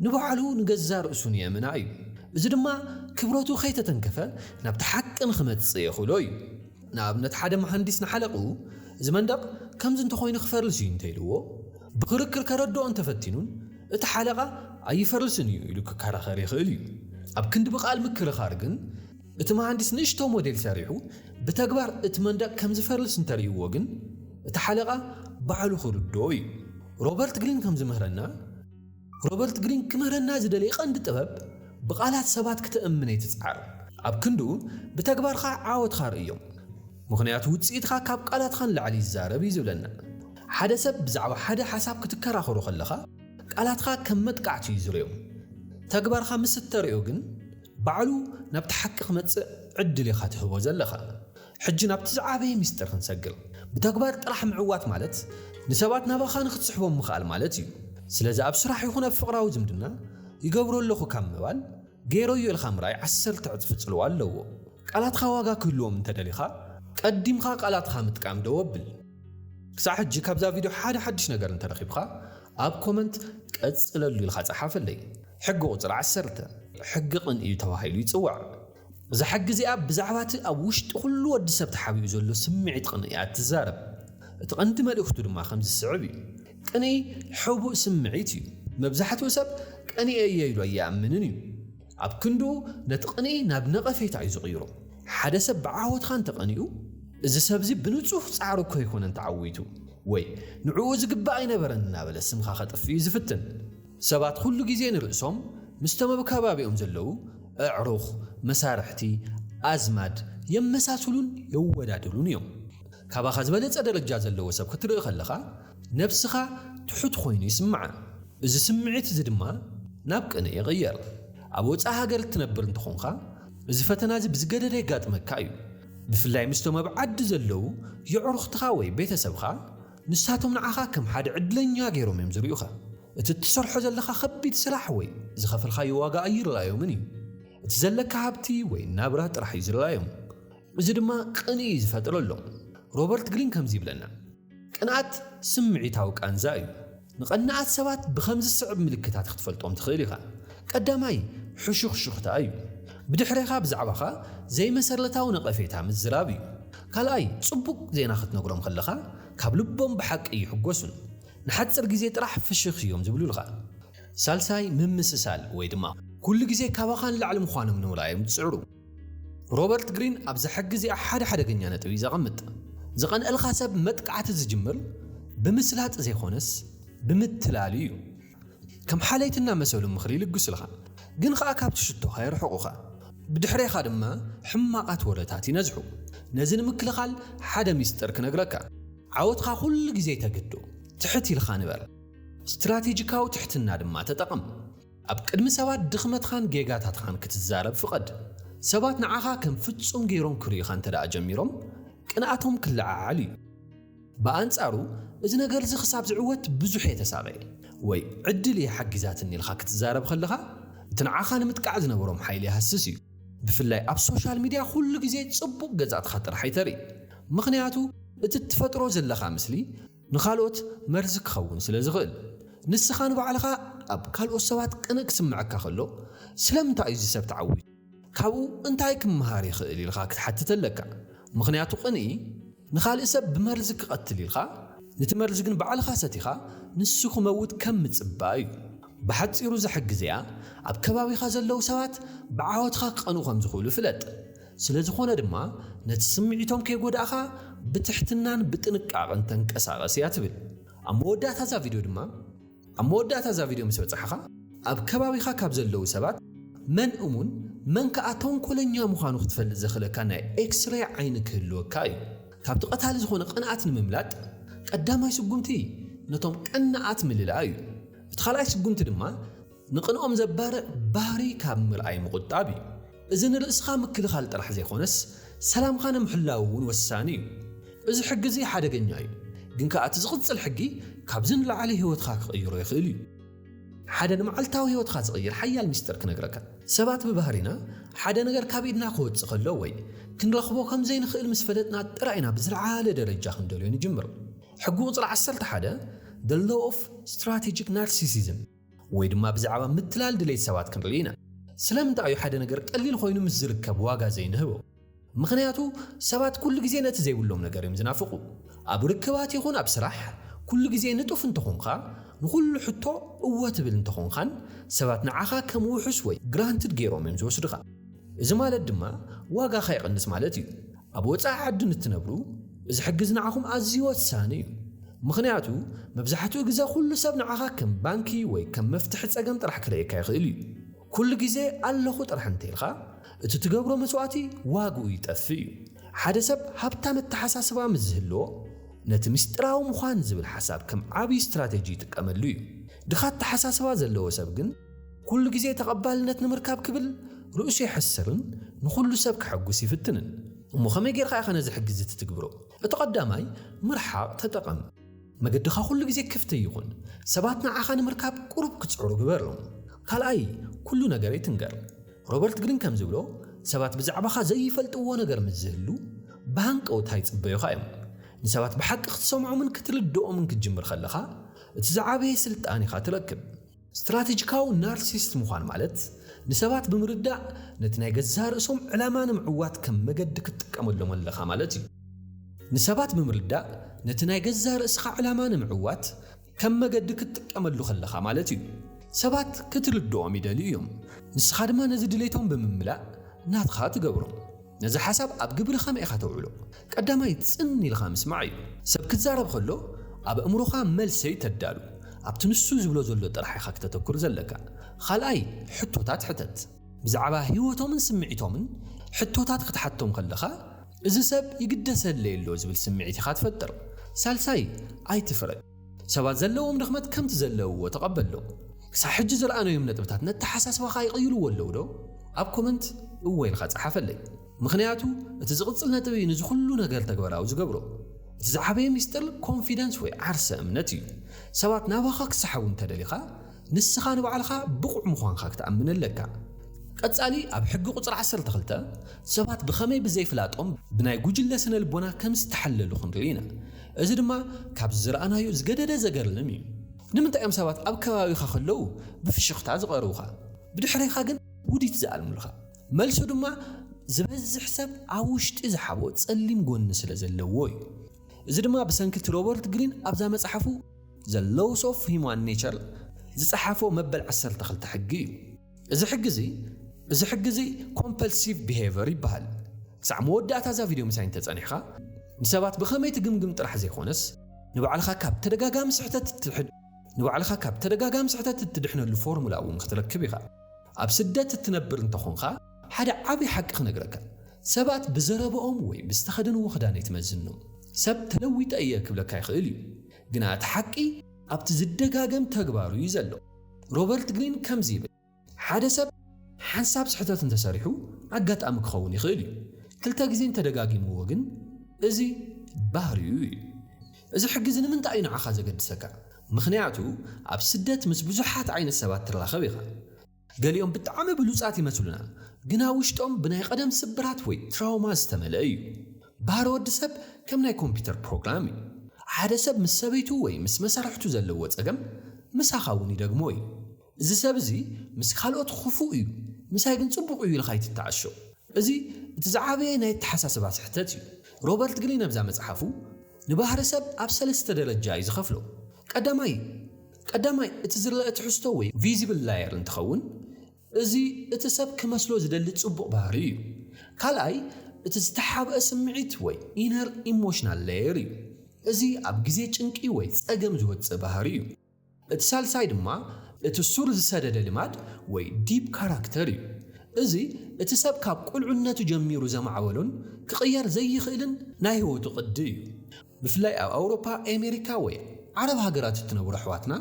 ንባዕሉ ንገዛእ ርእሱ ንየእምና እዩ። እዚ ድማ ክብረቱ ከይተተንከፈ ናብቲ ሓቂ ንኽመጽእ የኽእሎ እዩ። ንኣብነት ሓደ መሃንዲስ ንሓለቕኡ እዚ መንደቕ ከምዚ እንተኾይኑ ክፈርስ እዩ እንተኢልዎ ብኽርክር ከረድኦ እንተፈቲኑን፣ እቲ ሓለቓ ኣይፈርስን እዩ ኢሉ ክከራኸር ይኽእል እዩ። ኣብ ክንዲ ብቃል ምክርኻር ግን እቲ መሃንዲስ ንእሽቶ ሞዴል ሰሪሑ ብተግባር እቲ መንደቕ ከም ዝፈርስ እንተርእዩዎ ግን እቲ ሓለቓ ባዕሉ ክርድኦ እዩ። ሮበርት ግሪን ከም ዝምህረና ሮበርት ግሪን ክምህረና ዝደለየ ቀንዲ ጥበብ ብቃላት ሰባት ክተእምን ኣይትጽዓር ኣብ ክንድኡ ብተግባርካ ዓወትካ ርእዮም ምኽንያቱ ውጽኢትካ ካብ ቃላትካ ንላዕሊ ይዛረብ እዩ ዝብለና። ሓደ ሰብ ብዛዕባ ሓደ ሓሳብ ክትከራኸሮ ከለኻ ቃላትካ ከም መጥቃዕቲ እዩ ዝሪኦ። ተግባርካ ምስ እተሪኦ ግን ባዕሉ ናብቲ ሓቂ ክመጽእ ዕድል ኢኻ ትህቦ ዘለኻ። ሕጂ ናብቲ ዝዓበየ ምስጢር ክንሰግር። ብተግባር ጥራሕ ምዕዋት ማለት ንሰባት ናባኻ ንክትስሕቦም ምኽኣል ማለት እዩ። ስለዚ ኣብ ስራሕ ይኹን ኣብ ፍቕራዊ ዝምድና ይገብሮ ኣለኹ ካብ ምባል ገይረዮ ኢልካ ምርኣይ ዓሰርተ ዕጽፊ ጽልዋ ኣለዎ። ቃላትካ ዋጋ ክህልዎም እንተደሊኻ ቀዲምካ ቃላትካ ምጥቃም ደው ኣብል። ክሳዕ ሕጂ ካብዛ ቪድዮ ሓደ ሓድሽ ነገር እንተረኺብካ ኣብ ኮመንት ቀጽለሉ ኢልካ ጸሓፈለይ። ሕጊ ቁጽሪ ዓሰርተ፣ ሕጊ ቅን እዩ ተባሂሉ ይጽዋዕ። እዛ ሕጊ እዚኣ ብዛዕባ እቲ ኣብ ውሽጢ ኩሉ ወዲ ሰብ ተሓቢኡ ዘሎ ስምዒት ቅንኢ እያ እትዛረብ። እቲ ቀንዲ መልእኽቱ ድማ ከምዚ ዝስዕብ እዩ፣ ቅንኢ ሕቡእ ስምዒት እዩ። መብዛሕትኡ ሰብ ቀኒኤ እየ ኢሉ ኣይኣምንን እዩ። ኣብ ክንድኡ ነቲ ቕንኢ ናብ ነቐፌታ እዩ ዝቕይሮ። ሓደ ሰብ ብዓወትካ እንተ ቐኒኡ፣ እዚ ሰብ'ዚ ብንጹህ ጻዕሩ እኮ ኣይኮነን ተዓዊቱ፣ ወይ ንዕኡ ዝግባእ ኣይነበረን እናበለ ስምካ ከጥፍእ እዩ ዝፍትን። ሰባት ኩሉ ግዜ ንርእሶም ምስቶም ኣብ ከባቢኦም ዘለዉ ኣዕሩኽ፣ መሳርሕቲ፣ ኣዝማድ የመሳስሉን የወዳድሩን እዮም። ካባኻ ዝበለጸ ደረጃ ዘለዎ ሰብ ክትርኢ ከለኻ፣ ነብስኻ ትሑት ዀይኑ ይስምዓ፣ እዚ ስምዒት እዚ ድማ ናብ ቅንኢ ይቕየር። ኣብ ወጻኢ ሃገር እትነብር እንተ ዀንካ፣ እዚ ፈተና እዚ ብዝገደደ የጋጥመካ እዩ። ብፍላይ ምስቶም ኣብ ዓዲ ዘለዉ የዕሩኽትኻ ወይ ቤተሰብካ፣ ንሳቶም ንዓኻ ከም ሓደ ዕድለኛ ገይሮም እዮም ዝርእዩኻ። እቲ እትሰርሖ ዘለኻ ኸቢድ ስራሕ ወይ ዝኸፈልካዮ ዋጋ ኣይርኣዮምን እዩ። እቲ ዘለካ ሃብቲ ወይ ናብራ ጥራሕ እዩ ዝርኣዮም። እዚ ድማ ቅንኢ እዩ ዝፈጥረሎም። ሮበርት ግሪን ከምዚ ይብለና፣ ቅንኣት ስምዒታዊ ቃንዛ እዩ። ንቐናኣት ሰባት ብኸምዚ ዝስዕብ ምልክታት ክትፈልጦም ትኽእል ኢኻ። ቀዳማይ ሕሹኽሹኽታ እዩ። ብድሕሬኻ ብዛዕባኻ ዘይመሰረታዊ ነቐፌታ ምዝራብ እዩ። ካልኣይ ጽቡቕ ዜና ክትነግሮም ከለኻ ካብ ልቦም ብሓቂ ኣይሕጎሱን። ንሓጽር ግዜ ጥራሕ ፍሽኽ እዮም ዝብሉልኻ። ሳልሳይ ምምስሳል ወይ ድማ ኩሉ ግዜ ካባኻ ንላዕሊ ምዃኖም ንምርኣዮም ዝጽዕሩ። ሮበርት ግሪን ኣብዛ ሕጊ እዚኣ ሓደ ሓደገኛ ነጥቢ እዩ ዘቐምጥ። ዝቐንኣልካ ሰብ መጥቃዕቲ ዝጅምር ብምስላጥ ዘይኮነስ ብምትላል እዩ። ከም ሓለይቲ እናመሰሉ ምኽሪ ይልግሱልኻ፣ ግን ኸኣ ካብቲ ሽቶኻ የርሕቑኻ። ብድሕሬኻ ድማ ሕማቓት ወረታት ይነዝሑ። ነዚ ንምክልኻል ሓደ ሚስጥር ክነግረካ። ዓወትኻ ኩሉ ግዜ ተግዶ። ትሕት ኢልካ ንበር። ስትራቴጂካዊ ትሕትና ድማ ተጠቐም። ኣብ ቅድሚ ሰባት ድኽመትኻን ጌጋታትኻን ክትዛረብ ፍቐድ። ሰባት ንዓኻ ከም ፍጹም ገይሮም ክርእዩኻ እንተ ደኣ ጀሚሮም፣ ቅንኣቶም ክለዓዓል እዩ። ብኣንጻሩ፣ እዚ ነገር እዚ ኽሳብ ዝዕወት ብዙሕ እየ ተሳቒየ ወይ ዕድል እያ ሓጊዛትኒ ኢልካ ክትዛረብ ኸለኻ፣ እቲ ንዓኻ ንምጥቃዕ ዝነበሮም ሓይሊ ይሃስስ እዩ። ብፍላይ ኣብ ሶሻል ሚድያ ዅሉ ግዜ ጽቡቕ ገጻትካ ጥራሕ ኣይተርኢ፣ ምኽንያቱ እቲ እትፈጥሮ ዘለኻ ምስሊ፣ ንኻልኦት መርዚ ክኸውን ስለ ዝኽእል። ንስኻ ንባዕልኻ ኣብ ካልኦት ሰባት ቅንእ ክስምዐካ ከሎ፣ ስለምንታይ እዩ እዚ ሰብ ተዓዊቱ? ካብኡ እንታይ ክመሃር ይኽእል? ኢልካ ክትሓትት ኣለካ። ምኽንያቱ ቅንኢ ንኻልእ ሰብ ብመርዚ ክቐትል ኢልካ፣ ነቲ መርዚ ግን ባዕልኻ ሰቲኻ ንሱ ክመውት ከም ምጽባእ እዩ። ብሓጺሩ እዛ ሕጊ እዚኣ ኣብ ከባቢኻ ዘለዉ ሰባት ብዓወትኻ ክቐንኡ ከም ዝኽእሉ ፍለጥ። ስለዝኾነ ድማ ነቲ ስምዒቶም ከይጎዳእኻ ብትሕትናን ብጥንቃቕን ተንቀሳቐስ እያ ትብል። ኣብ መወዳእታ እዛ ቪድዮ ድማ ኣብ መወዳእታ እዛ ቪድዮ ምስ በጻሕኻ ኣብ ከባቢኻ ካብ ዘለዉ ሰባት መን እሙን መን ከኣ ተንኮለኛ ምዃኑ ክትፈልጥ ዘኽእለካ ናይ ኤክስሬይ ዓይኒ ክህልወካ እዩ። ካብቲ ቀታሊ ዝኾነ ቅንኣት ንምምላጥ ቀዳማይ ስጉምቲ ነቶም ቀናኣት ምልላይ እዩ። እቲ ካልኣይ ስጉምቲ ድማ ንቕንኦም ዘባርዕ ባህሪ ካብ ምርኣይ ምቑጣብ እዩ። እዚ ንርእስኻ ምክልኻል ጥራሕ ዘይኮነስ ሰላምካ ንምሕላው እውን ወሳኒ እዩ። እዚ ሕጊ እዚ ሓደገኛ እዩ፣ ግን ከኣ እቲ ዝቕጽል ሕጊ ካብዚ ንላዕሊ ህይወትካ ክቕይሮ ይኽእል እዩ። ሓደ ንመዓልታዊ ህይወትካ ዝቕይር ሓያል ሚስጥር ክነግረካ። ሰባት ብባህሪና ሓደ ነገር ካብ ኢድና ክወጽእ ከሎ ወይ ክንረኽቦ ከም ዘይንኽእል ምስ ፈለጥና ጥራይ ኢና ብዝለዓለ ደረጃ ክንደልዮ ንጅምር። ሕጊ ቁጽሪ ዓሰርተ ሓደ፣ The Law of Strategic Narcissism፣ ወይ ድማ ብዛዕባ ምትላል ድሌት ሰባት ክንርኢ ኢና። ስለምንታይ እዩ ሓደ ነገር ቀሊል ዀይኑ ምስ ዚርከብ ዋጋ ዘይንህቦ? ምኽንያቱ፣ ሰባት ኵሉ ግዜ ነቲ ዘይብሎም ነገር እዮም ዚናፍቑ። ኣብ ርክባት ይኹን ኣብ ስራሕ፣ ኵሉ ግዜ ንጡፍ እንተ ዀንካ፣ ንዅሉ ሕቶ እወ ትብል እንተ ዀንካን፣ ሰባት ንዓኻ ከም ውሑስ ወይ granted ገይሮም እዮም ዚወስዱኻ። እዚ ማለት ድማ ዋጋ ከይቕንስ ማለት እዩ። ኣብ ወጻኢ ዓዲ ንትነብሩ እዚ ሕግዝ ንዓኹም ኣዝዩ ወሳኒ እዩ። ምኽንያቱ መብዛሕትኡ ግዘ ኩሉ ሰብ ንዓኻ ከም ባንኪ ወይ ከም መፍትሒ ጸገም ጥራሕ ክርእየካ ይኽእል እዩ። ኩሉ ግዘ ኣለኹ ጥራሕ እንተኢልኻ እቲ ትገብሮ መስዋእቲ ዋግኡ ይጠፍእ እዩ። ሓደ ሰብ ሃብታም ኣተሓሳስባ ምስ ዝህልዎ ነቲ ምስጢራዊ ምዃን ዝብል ሓሳብ ከም ዓብይ ስትራቴጂ ይጥቀመሉ እዩ። ድኻ ኣተሓሳስባ ዘለዎ ሰብ ግን፣ ኩሉ ግዜ ተቐባልነት ንምርካብ ክብል ርእሱ የሕስርን ንኹሉ ሰብ ከሐጉስ ይፍትንን። እሞ ከመይ ጌርካ ኢኻ ነዚ ሕጊዚ ትትግብሮ? እቲ ቀዳማይ ምርሓቕ ተጠቐም። መገድኻ ኩሉ ግዜ ክፍቲ ይኹን። ሰባት ንዓኻ ንምርካብ ቁሩብ ክጽዕሩ ግበሮም። ካልኣይ ኩሉ ነገር ኣይትንገር። ሮበርት ግሪን ከም ዝብሎ ሰባት ብዛዕባኻ ዘይፈልጥዎ ነገር ምስ ዝህሉ ብሃንቀውታ ይጽበዩኻ እዮም። ንሰባት ብሓቂ ክትሰምዖምን ክትርድኦምን ክትጅምር ከለኻ እቲ ዝዓበየ ስልጣን ኢኻ ትረክብ። ስትራተጂካዊ ናርሲስት ምዃን ማለት፣ ንሰባት ብምርዳእ ነቲ ናይ ገዛእ ርእሶም ዕላማ ንምዕዋት ከም መገዲ ክትጥቀመሎም ኣለኻ ማለት እዩ። ንሰባት ብምርዳእ ነቲ ናይ ገዛእ ርእስኻ ዕላማ ንምዕዋት ከም መገዲ ክትጥቀመሉ ከለኻ ማለት እዩ። ሰባት ክትርድኦም ይደልዩ እዮም፣ ንስኻ ድማ ነዚ ድሌቶም ብምምላእ ናትኻ ትገብሮ። ነዚ ሓሳብ ኣብ ግብሪ ከመይ ኢኻ ተውዕሎ? ቀዳማይ ጽን ኢልኻ ምስማዕ እዩ። ሰብ ክዛረብ ከሎ ኣብ ኣእምሮኻ መልሰይ ተዳሉ። ኣብቲ ንሱ ዝብሎ ዘሎ ጥራሕ ኢኻ ክተተኩር ዘለካ። ኻልኣይ ሕቶታት ሕተት። ብዛዕባ ህይወቶምን ስምዒቶምን ሕቶታት ክትሓቶም ከለኻ እዚ ሰብ ይግደሰለይ ኣሎ ዝብል ስምዒት ኢኻ ትፈጥር። ሳልሳይ ኣይትፍረድ። ሰባት ዘለዎም ድኽመት ከምቲ ዘለውዎ ተቐበሎም። ክሳዕ ሕጂ ዝረኣናዮም ነጥብታት ነተሓሳስባኻ ይቕይርዎ ኣለውዶ? ኣብ ኮመንት እወ ኢልካ ጸሓፈለይ። ምኽንያቱ እቲ ዝቕጽል ነጥቢ እዩ ነዚ ኹሉ ነገር ተግባራዊ ዝገብሮ። እቲ ዝዓበየ ምስጢር ኮንፊደንስ ወይ ዓርሰ እምነት እዩ። ሰባት ናባኻ ክሰሓቡ እንተደሊኻ ንስኻ ንባዕልኻ ብቑዕ ምዃንካ ክትኣምን ኣለካ። ቀጻሊ ኣብ ሕጊ ቁጽሪ ዓሰርተ ክልተ ሰባት ብኸመይ ብዘይፍላጦም ብናይ ጉጅለ ስነ ልቦና ከም ዝተሓለሉ ክንርኢ ኢና። እዚ ድማ ካብዚ ዝረኣናዮ ዝገደደ ዘገርልም እዩ። ንምንታይ እዮም ሰባት ኣብ ከባቢኻ ከለዉ ብፍሽኽታ ዝቐርቡኻ ብድሕሬኻ ግን ውዲት ዝኣልሙልኻ? መልሱ ድማ ዝበዝሕ ሰብ ኣብ ውሽጢ ዝሓቦ ጸሊም ጎኒ ስለ ዘለዎ እዩ። እዚ ድማ ብሰንኪ እቲ ሮበርት ግሪን ኣብዛ መጽሓፉ The Laws of Human Nature ዝጸሓፎ መበል ዓሰርተ ክልተ ሕጊ እዩ። እዚ ሕጊ እዚ እዚ ሕጊ እዚ ኮምፐልሲቭ ቢሄቨር ይበሃል። ክሳዕ መወዳእታ እዛ ቪድዮ ምሳይ እንተጸኒሕካ ንሰባት ብኸመይ ትግምግም ጥራሕ ዘይኮነስ ንባዕልኻ ካብ ተደጋጋሚ ስሕተት ንባዕልኻ ካብ ተደጋጋሚ ስሕተት እትድሕነሉ ፎርሙላ እውን ክትረክብ ኢኻ። ኣብ ስደት እትነብር እንተ ኾንካ ሓደ ዓቢ ሓቂ ክነግረካ ሰባት ብዘረበኦም ወይ ብዝተኸደንዎ ክዳን ኣይትመዝኖም። ሰብ ተለዊጠ እየ ክብለካ ይኽእል እዩ ግና እቲ ሓቂ ኣብቲ ዝደጋገም ተግባሩ እዩ ዘሎ። ሮበርት ግሪን ከምዚ ይብል ሓደ ሰብ ሓንሳብ ስሕተት እንተ ሰሪሑ ኣጋጣሚ ክኸውን ይኽእል እዩ ክልተ ግዜ እንተ ደጋጊምዎ ግን እዚ ባህሪኡ እዩ። እዚ ሕጊ እዚ ንምንታይ እዩ ንዓኻ ዘገድሰካ? ምኽንያቱ ኣብ ስደት ምስ ብዙሓት ዓይነት ሰባት ትራኸብ ኢኻ። ገሊኦም ብጣዕሚ ብሉጻት ይመስሉና፣ ግና ውሽጦም ብናይ ቐደም ስብራት ወይ ትራውማ ዝተመልአ እዩ። ባህሪ ወዲ ሰብ ከም ናይ ኮምፒተር ፕሮግራም እዩ። ሓደ ሰብ ምስ ሰበይቱ ወይ ምስ መሳርሕቱ ዘለዎ ጸገም ምሳኻ እውን ይደግሞ እዩ። እዚ ሰብ እዚ ምስ ካልኦት ኽፉእ እዩ፣ ምሳይ ግን ጽቡቕ እዩ ኢልካ ኣይትተዓሾ። እዚ እቲ ዝዓበየ ናይ ኣተሓሳስባ ስሕተት እዩ። ሮበርት ግሪን ኣብዛ መጽሓፉ ንባህሪ ሰብ ኣብ ሰለስተ ደረጃ እዩ ዝኸፍሎ። ቀዳማይ ቀዳማይ እቲ ዝረኣ ትሕዝቶ ወይ ቪዚብል ላየር እንትኸውን እዚ እቲ ሰብ ክመስሎ ዝደሊ ጽቡቕ ባህሪ እዩ። ካልኣይ እቲ ዝተሓብኣ ስምዒት ወይ ኢነር ኢሞሽናል ላየር እዩ። እዚ ኣብ ግዜ ጭንቂ ወይ ጸገም ዝወጽእ ባህሪ እዩ። እቲ ሳልሳይ ድማ እቲ ሱር ዝሰደደ ልማድ ወይ ዲፕ ካራክተር እዩ። እዚ እቲ ሰብ ካብ ቁልዕነቱ ጀሚሩ ዘማዕበሎን ክቕየር ዘይኽእልን ናይ ህይወቱ ቅዲ እዩ። ብፍላይ ኣብ ኣውሮፓ፣ ኤሜሪካ ወይ ዓረብ ሃገራት እትነብሩ ኣሕዋትና፣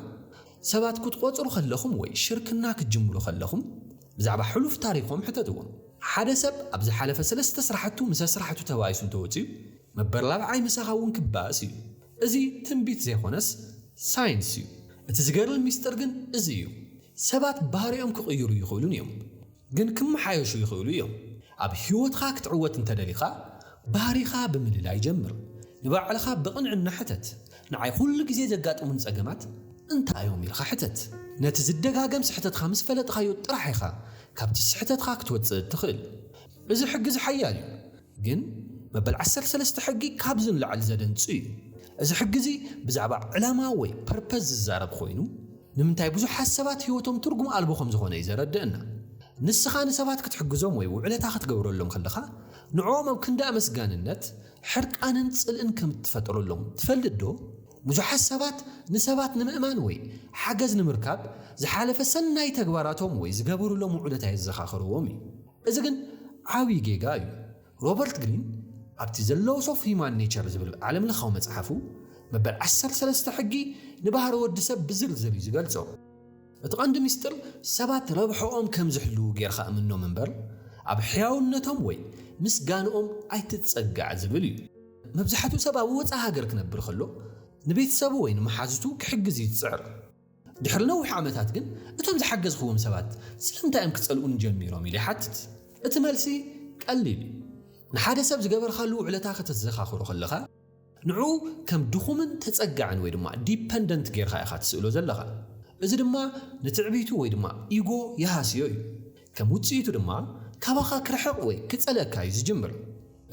ሰባት ክትቖጽሩ ከለኹም ወይ ሽርክና ክትጅምሩ ከለኹም ብዛዕባ ሕሉፍ ታሪኾም ሕተትዎም። ሓደ ሰብ ኣብ ዝሓለፈ ሰለስተ ስራሕቱ ምስ ኣስራሕቱ ተባኢሱ እንተወጺኡ፣ መበርላብዓይ ምሳኻ እውን ክባእስ እዩ። እዚ ትንቢት ዘይኮነስ ሳይንስ እዩ። እቲ ዝገርም ሚስጥር ግን እዚ እዩ፣ ሰባት ባህሪኦም ክቕይሩ ይኽእሉን እዮም፣ ግን ክመሓየሹ ይኽእሉ እዮም። ኣብ ህይወትኻ ክትዕወት እንተ ደሊኻ፣ ባህሪኻ ብምልላይ ጀምር። ንባዕልኻ ብቕንዕና ሕተት፣ ንዓይ ኩሉ ግዜ ዘጋጥሙኒ ጸገማት እንታይ እዮም? ኢልካ ሕተት። ነቲ ዝደጋገም ስሕተትካ ምስ ፈለጥካዮ ጥራሕ ኢኻ ካብቲ ስሕተትካ ክትወጽእ እትኽእል። እዚ ሕግ'ዚ ሓያል እዩ፣ ግን መበል ዓሰርተ ሰለስተ ሕጊ ካብዚ ንላዕሊ ዘደንጹ እዩ። እዚ ሕጊ እዚ ብዛዕባ ዕላማ ወይ ፐርፐዝ ዝዛረብ ኮይኑ ንምንታይ ብዙሓት ሰባት ህይወቶም ትርጉም ኣልቦ ከም ዝኾነ እዩ ዘረደእና። ንስኻ ንሰባት ክትሕግዞም ወይ ውዕለታ ክትገብረሎም ከለኻ ንዕኦም ኣብ ክንዲ ኣመስጋንነት ሕርቃንን ጽልእን ከም እትፈጥረሎም ትፈልጥ ዶ? ብዙሓት ሰባት ንሰባት ንምእማን ወይ ሓገዝ ንምርካብ ዝሓለፈ ሰናይ ተግባራቶም ወይ ዝገበሩሎም ውዕለታ የዘኻኽርዎም እዩ። እዚ ግን ዓቢ ጌጋ እዩ። ሮበርት ግሪን ኣብቲ ዘ ሎውስ ኦፍ ሂዩማን ኔቸር ዝብል ዓለምለኻዊ መጽሓፉ፣ መበል ዓሰርተ ሰለስተ ሕጊ ንባህሪ ወዲ ሰብ ብዝርዝር እዩ ዝገልጾ። እቲ ቀንዲ ምስጢር ሰባት ረብሕኦም ከም ዝሕልዉ ጌርካ እምኖም እምበር ኣብ ሕያውነቶም ወይ ምስጋንኦም ኣይትጸጋዕ ዝብል እዩ። መብዛሕትኡ ሰብ ኣብ ወጻኢ ሃገር ክነብር ከሎ ንቤተሰቡ ወይ ንመሓዙቱ ክሕግዝ እዩ ዝጽዕር። ድሕሪ ነዊሕ ዓመታት ግን እቶም ዝሓገዝኽዎም ሰባት ስለምንታይ እዮም ክጸልኡኒ ጀሚሮም ኢለ ይሓትት። እቲ መልሲ ቀሊል እዩ። ንሓደ ሰብ ዝገበርካሉ ውዕለታ ከተዘኻኽሮ ከለኻ፣ ንዕኡ ከም ድኹምን ተጸጋዕን ወይ ድማ ዲፐንደንት ጌርካ ኢኻ ትስእሎ ዘለኻ። እዚ ድማ ንትዕቢቱ ወይ ድማ ኢጎ ይሃስዮ እዩ። ከም ውጽኢቱ ድማ ካባኻ ክርሕቕ ወይ ክጸልኣካ እዩ ዝጅምር።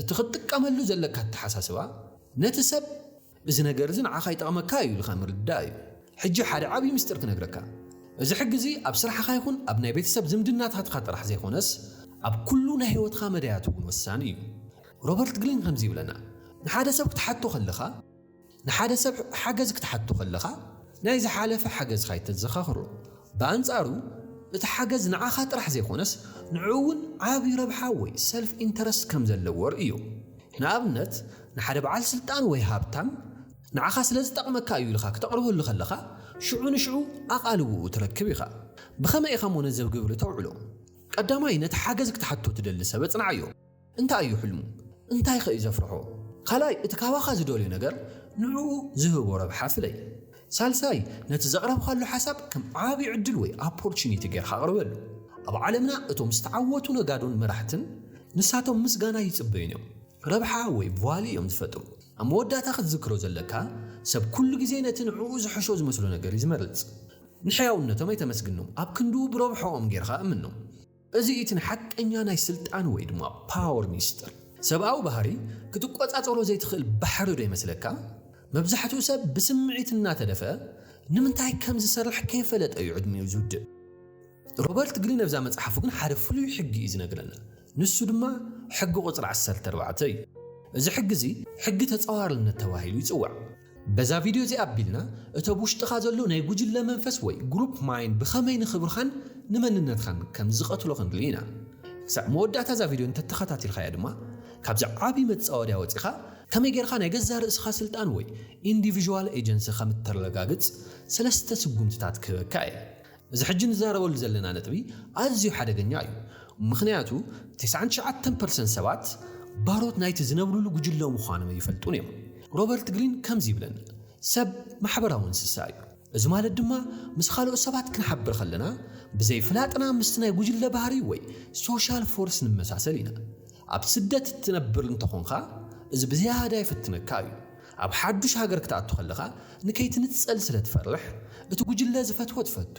እቲ ክትጥቀመሉ ዘለካ ኣተሓሳስባ ነቲ ሰብ እዚ ነገር እዚ ንዓኻ ይጠቕመካ እዩ ኢልካ ምርዳእ እዩ። ሕጂ ሓደ ዓብዪ ምስጢር ክነግረካ። እዚ ሕጊ እዚ ኣብ ስራሕኻ ይኹን ኣብ ናይ ቤተሰብ ዝምድናታትካ ጥራሕ ዘይኮነስ ኣብ ኩሉ ናይ ህይወትካ መዳያት እውን ወሳኒ እዩ። ሮበርት ግሊን ከምዚ ይብለና፣ ንሓደ ሰብ ክትሓቶ ከለኻ፣ ንሓደ ሰብ ሓገዝ ክትሓቶ ከለኻ ናይ ዝሓለፈ ሓገዝካ ኣይተዘኻኽሮ። ብኣንጻሩ እቲ ሓገዝ ንዓኻ ጥራሕ ዘይኮነስ ንዕኡ እውን ዓቢ ረብሓ ወይ ሰልፍ ኢንተረስት ከም ዘለዎ ርእዮ። ንኣብነት፣ ንሓደ በዓል ስልጣን ወይ ሃብታም ንዓኻ ስለ ዝጠቕመካ እዩ ኢልኻ ክተቕርበሉ ከለኻ፣ ሽዑ ንሽዑ ኣቓልቦኡ ትረክብ ኢኻ። ብኸመይ ኢኻ'ሞ ነዚ ኣብ ግብሪ ተውዕሎ? ቀዳማይ፣ ነቲ ሓገዝ ክትሓቶ ትደሊ ሰብ ኣጽንዓዮ። እንታይ እዩ ሕልሙ? እንታይ'ኸ እዩ ዘፍርሖ? ካልኣይ፣ እቲ ካባኻ ዝደልዮ ነገር ንዕኡ ዝህቦ ረብሓ ፍለይ። ሳልሳይ፣ ነቲ ዘቕረብካሉ ሓሳብ ከም ዓቢ ዕድል ወይ ኣፖርቹኒቲ ጌርካ ኣቕርበሉ። ኣብ ዓለምና እቶም ዝተዓወቱ ነጋዶን መራሕትን ንሳቶም ምስጋና ኣይጽበዩን እዮም። ረብሓ ወይ ቫልዩ እዮም ዝፈጥሩ። ኣብ መወዳእታ ክትዝክሮ ዘለካ፣ ሰብ ኩሉ ግዜ ነቲ ንዕኡ ዝሕሾ ዝመስሎ ነገር እዩ ዝመርጽ። ንሕያውነቶም ኣይተመስግኖም፣ ኣብ ክንድኡ ብረብሕኦም ጌርካ እምኖም። እዚ እዩ እቲ ንሓቀኛ ናይ ስልጣን ወይ ድማ ፓወር ሚስጥር። ሰብኣዊ ባህሪ ክትቆጻጸሮ ዘይትኽእል ባሕሪ ዶ ይመስለካ? መብዛሕትኡ ሰብ ብስምዒት እናተደፍአ ንምንታይ ከም ዝሰርሕ ከይፈለጠ እዩ ዕድሚኡ ዝውድእ። ሮበርት ግሪን ኣብዛ መጽሓፉ ግን ሓደ ፍሉይ ሕጊ እዩ ዝነግረና። ንሱ ድማ ሕጊ ቁጽሪ ዓሰርተ ኣርባዕተ እዩ። እዚ ሕጊ እዚ ሕጊ ተጻዋርነት ተባሂሉ ይጽዋዕ። በዛ ቪድዮ እዚኣ ኣቢልና እቲ ኣብ ውሽጥኻ ዘሎ ናይ ጉጅለ መንፈስ ወይ ግሩፕ ማይንድ ብኸመይ ንኽብርኻን ንመንነትኻን ከም ዝቐትሎ ክንርኢ ኢና። ክሳዕ መወዳእታ እዛ ቪድዮ እንተተኸታቲልካያ ድማ ካብዚ ዓቢ መጻወድያ ወጺኻ ከመይ ጌርካ ናይ ገዛእ ርእስኻ ስልጣን ወይ ኢንዲቪዥዋል ኤጀንሲ ከም እተረጋግጽ ሰለስተ ስጉምትታት ክህበካ እየ። እዚ ሕጂ ንዛረበሉ ዘለና ነጥቢ ኣዝዩ ሓደገኛ እዩ፣ ምኽንያቱ ተስዓን ትሽዓተን ፐርሰንት ሰባት ባሮት ናይቲ ዝነብሩሉ ጉጅለ ምዃኖም ኣይፈልጡን እዮም። ሮበርት ግሪን ከምዚ ይብለና፣ ሰብ ማሕበራዊ እንስሳ እዩ። እዚ ማለት ድማ ምስ ካልኦት ሰባት ክንሓብር ከለና ብዘይ ፍላጥና ምስቲ ናይ ጉጅለ ባህሪ ወይ ሶሻል ፎርስ ንመሳሰል ኢና። ኣብ ስደት እትነብር እንተኾንካ እዚ ብዝያዳ ይፍትነካ እዩ። ኣብ ሓዱሽ ሃገር ክትኣቱ ከለኻ ንከይትንጸል ስለ ትፈርሕ፣ እቲ ጉጅለ ዝፈትዎ ትፈቱ፣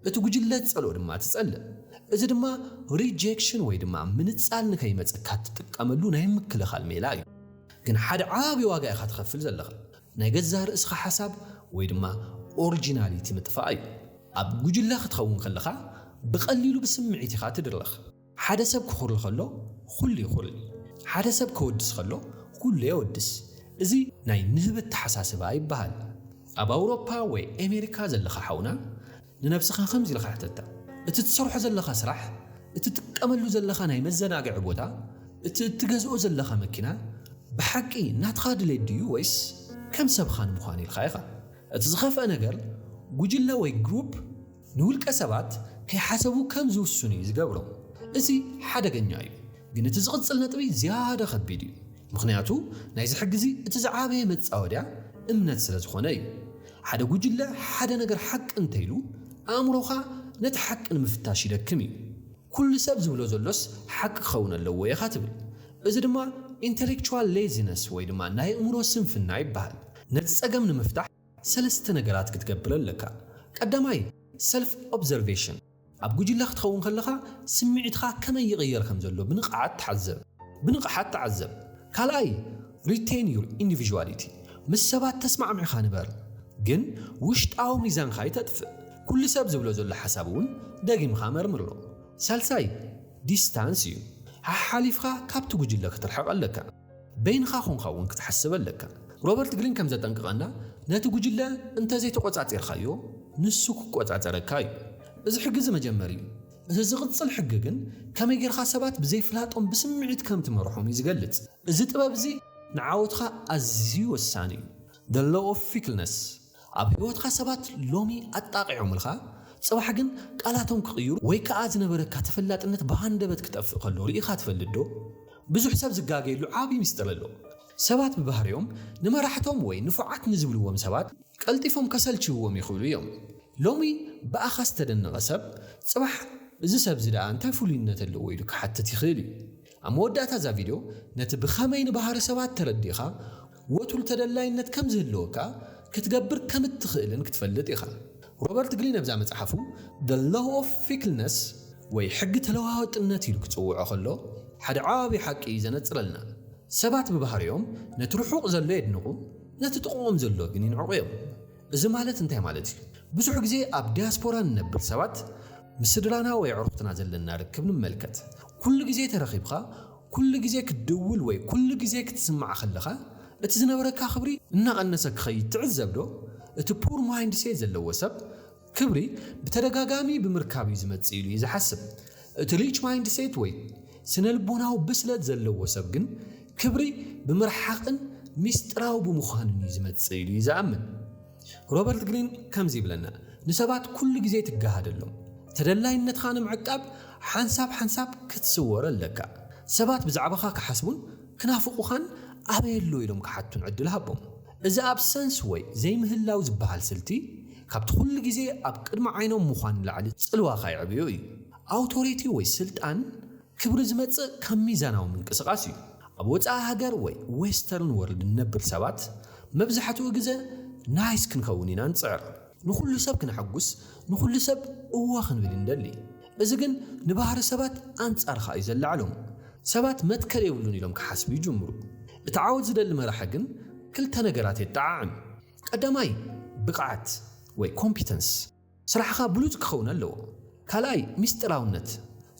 እቲ ጉጅለ ዝጸልኦ ድማ ትጸልእ። እዚ ድማ ሪጀክሽን ወይ ድማ ምንጻል ንከይመጸካ እትጥቀመሉ ናይ ምክልኻል ሜላ እዩ። ግን ሓደ ዓቢ ዋጋ ኢኻ ትኸፍል ዘለኻ። ናይ ገዛእ ርእስኻ ሓሳብ ወይ ድማ ኦርጂናሊቲ ምጥፋእ እዩ። ኣብ ጉጅለ ክትኸውን ከለኻ ብቐሊሉ ብስምዒት ኢኻ ትድረኽ። ሓደ ሰብ ክኹሪ ከሎ ኹሉ ይኹሪ ሓደ ሰብ ከወድስ ከሎ ኹሉ የወድስ እዚ ናይ ንህቢ ኣተሓሳስባ ይበሃል ኣብ ኣውሮፓ ወይ ኤሜሪካ ዘለኻ ሓውና ንነብስኻ ከምዚ ኢልኻ ሕተታ እቲ ትሰርሖ ዘለኻ ስራሕ እቲ ትጥቀመሉ ዘለኻ ናይ መዘናግዒ ቦታ እቲ እትገዝኦ ዘለኻ መኪና ብሓቂ ናትኻ ድሌት ድዩ ወይስ ከም ሰብኻ ንምዃን ኢልኻ ኢኻ እቲ ዝኸፍኣ ነገር ጉጅለ ወይ ግሩፕ ንውልቀ ሰባት ከይሓሰቡ ከም ዝውስኑ እዩ ዝገብሮም። እዚ ሓደገኛ እዩ። ግን እቲ ዝቕጽል ነጥቢ ዝያዳ ከቢድ እዩ። ምኽንያቱ ናይዚ ሕጊ'ዚ እቲ ዝዓበየ መጻወድያ እምነት ስለ ዝኾነ እዩ። ሓደ ጉጅለ ሓደ ነገር ሓቂ እንተይሉ ኣእምሮኻ ነቲ ሓቂ ንምፍታሽ ይደክም እዩ። ኩሉ ሰብ ዝብሎ ዘሎስ ሓቂ ክኸውን ኣለዎ ኢኻ ትብል። እዚ ድማ ኢንተሌክቹዋል ሌዚነስ ወይ ድማ ናይ ኣእምሮ ስንፍና ይበሃል። ነቲ ጸገም ንምፍታሕ፣ ሰለስተ ነገራት ክትገብር ኣለካ። ቀዳማይ፣ ሰልፍ ኦብዘርቬሽን፣ ኣብ ጉጅለ ክትኸውን ከለኻ ስምዒትኻ ከመይ ይቕየር ከም ዘሎ ብንቕሓት ተሓዘብ፣ ብንቕሓት ተዓዘብ። ካልኣይ፣ ሪቴን ዩር ኢንዲቪዥዋሊቲ፣ ምስ ሰባት ተስማዕሚዕካ ንበር፣ ግን ውሽጣዊ ሚዛንካ ኣይተጥፍእ። ኩሉ ሰብ ዝብሎ ዘሎ ሓሳብ እውን ደጊምካ መርምሮ። ሳልሳይ፣ ዲስታንስ እዩ፣ ሓሓሊፍካ ካብቲ ጉጅለ ክትርሕቕ ኣለካ። በይንኻ ዀንካ እውን ክትሓስብ ኣለካ። ሮበርት ግሪን ከም ዘጠንቅቐና፣ ነቲ ጕጅለ እንተ ዘይተቖጻጺርካዮ፣ ንሱ ክቈጻጸረካ እዩ። እዚ ሕጊ እዚ መጀመሪ እዩ። እቲ ዚቕጽል ሕጊ ግን፣ ከመይ ጌርካ ሰባት ብዘይ ፍላጦም ብስምዒት ከም ትመርሖም እዩ ዚገልጽ። እዚ ጥበብ እዚ ንዓወትካ ኣዝዩ ወሳኒ እዩ፣ The Law of Fickleness። ኣብ ህይወትካ ሰባት ሎሚ ኣጣቒዖምልካ ጽባሕ ግን ቃላቶም ክቕይሩ ወይ ከኣ ዝነበረካ ተፈላጥነት ብሃንደበት ክጠፍእ ከሎ ርኢኻ ትፈልጥዶ? ብዙሕ ሰብ ዝጋገየሉ ዓቢ ምስጢር ኣሎ። ሰባት ብባህሪኦም ንመራሕቶም ወይ ንፉዓት ንዝብልዎም ሰባት ቀልጢፎም ከሰልችይዎም ይኽእሉ እዮም። ሎሚ ብኣኻ ዝተደነቐ ሰብ ጽባሕ እዚ ሰብ'ዚ ደኣ እንታይ ፍሉይነት ኣለዎ ኢሉ ክሓትት ይኽእል እዩ። ኣብ መወዳእታ እዛ ቪድዮ ነቲ ብኸመይ ንባህሪ ሰባት ተረዲእኻ ወትሩ ተደላይነት ከም ዝህልወካ ክትገብር ከም እትኽእልን ክትፈልጥ ኢኻ። ሮበርት ግሪን ኣብዛ መጽሓፉ The Law of Fickleness ወይ ሕጊ ተለዋዋጥነት ኢሉ ክጽውዖ ከሎ ሓደ ዓቢ ሓቂ እዩ ዘነጽረልና። ሰባት ብባህሪኦም ነቲ ርሑቕ ዘሎ የድንቑ፣ ነቲ ጥቕኦም ዘሎ ግን ይንዕቑ እዮም። እዚ ማለት እንታይ ማለት እዩ? ብዙሕ ግዜ ኣብ ዲያስፖራ ንነብር ሰባት ምስ ስድራና ወይ ኣዕሩኽትና ዘለና ርክብ ንመልከት። ኩሉ ግዜ ተረኺብካ፣ ኩሉ ግዜ ክትድውል ወይ ኩሉ ግዜ ክትስማዕ ከለኻ እቲ ዝነበረካ ክብሪ እናቐነሰ ክኸይድ ትዕዘብ ዶ? እቲ ፑር ማይንድሴት ዘለዎ ሰብ ክብሪ ብተደጋጋሚ ብምርካብ እዩ ዝመጽእ ኢሉ እዩ ዝሓስብ። እቲ ሪች ማይንድሴት ወይ ስነልቦናዊ ብስለት ዘለዎ ሰብ ግን ክብሪ ብምርሓቕን ሚስጥራዊ ብምዃንን እዩ ዝመጽእ ኢሉ እዩ ዝኣምን። ሮበርት ግሪን ከምዚ ይብለና፣ ንሰባት ኩሉ ግዜ ትገሃደሎም። ተደላይነትካ ንምዕቃብ ሓንሳብ ሓንሳብ ክትስወር ኣለካ። ሰባት ብዛዕባኻ ክሓስቡን ክናፍቑኻን ኣበይ ኣሎ ኢሎም ክሓቱን ዕድል ሃቦም። እዚ ኣብሰንስ ወይ ዘይምህላው ዝበሃል ስልቲ ካብቲ ኩሉ ግዜ ኣብ ቅድሚ ዓይኖም ምዃን ንላዕሊ ጽልዋ ከየዕብዩ እዩ። ኣውቶሪቲ ወይ ስልጣን ክብሪ ዝመጽእ ካብ ሚዛናዊ ምንቅስቓስ እዩ። ኣብ ወጻኢ ሃገር ወይ ዌስተርን ወርልድ ንነብር ሰባት መብዛሕትኡ ግዘ ናይስ ክንኸውን ኢና ንጽዕር። ንኹሉ ሰብ ክነሐጉስ፣ ንኹሉ ሰብ እወ ክንብል እንደሊ። እዚ ግን ንባህሪ ሰባት ኣንጻርካ እዩ ዘለዕሎም። ሰባት መትከል የብሉን ኢሎም ክሓስቡ ይጅምሩ። እቲ ዓወት ዝደሊ መራሒ ግን ክልተ ነገራት የጠዓዕም። ቀዳማይ ብቕዓት ወይ ኮምፒተንስ፣ ስራሕኻ ብሉጽ ክኸውን ኣለዎ። ካልኣይ ምስጢራውነት፣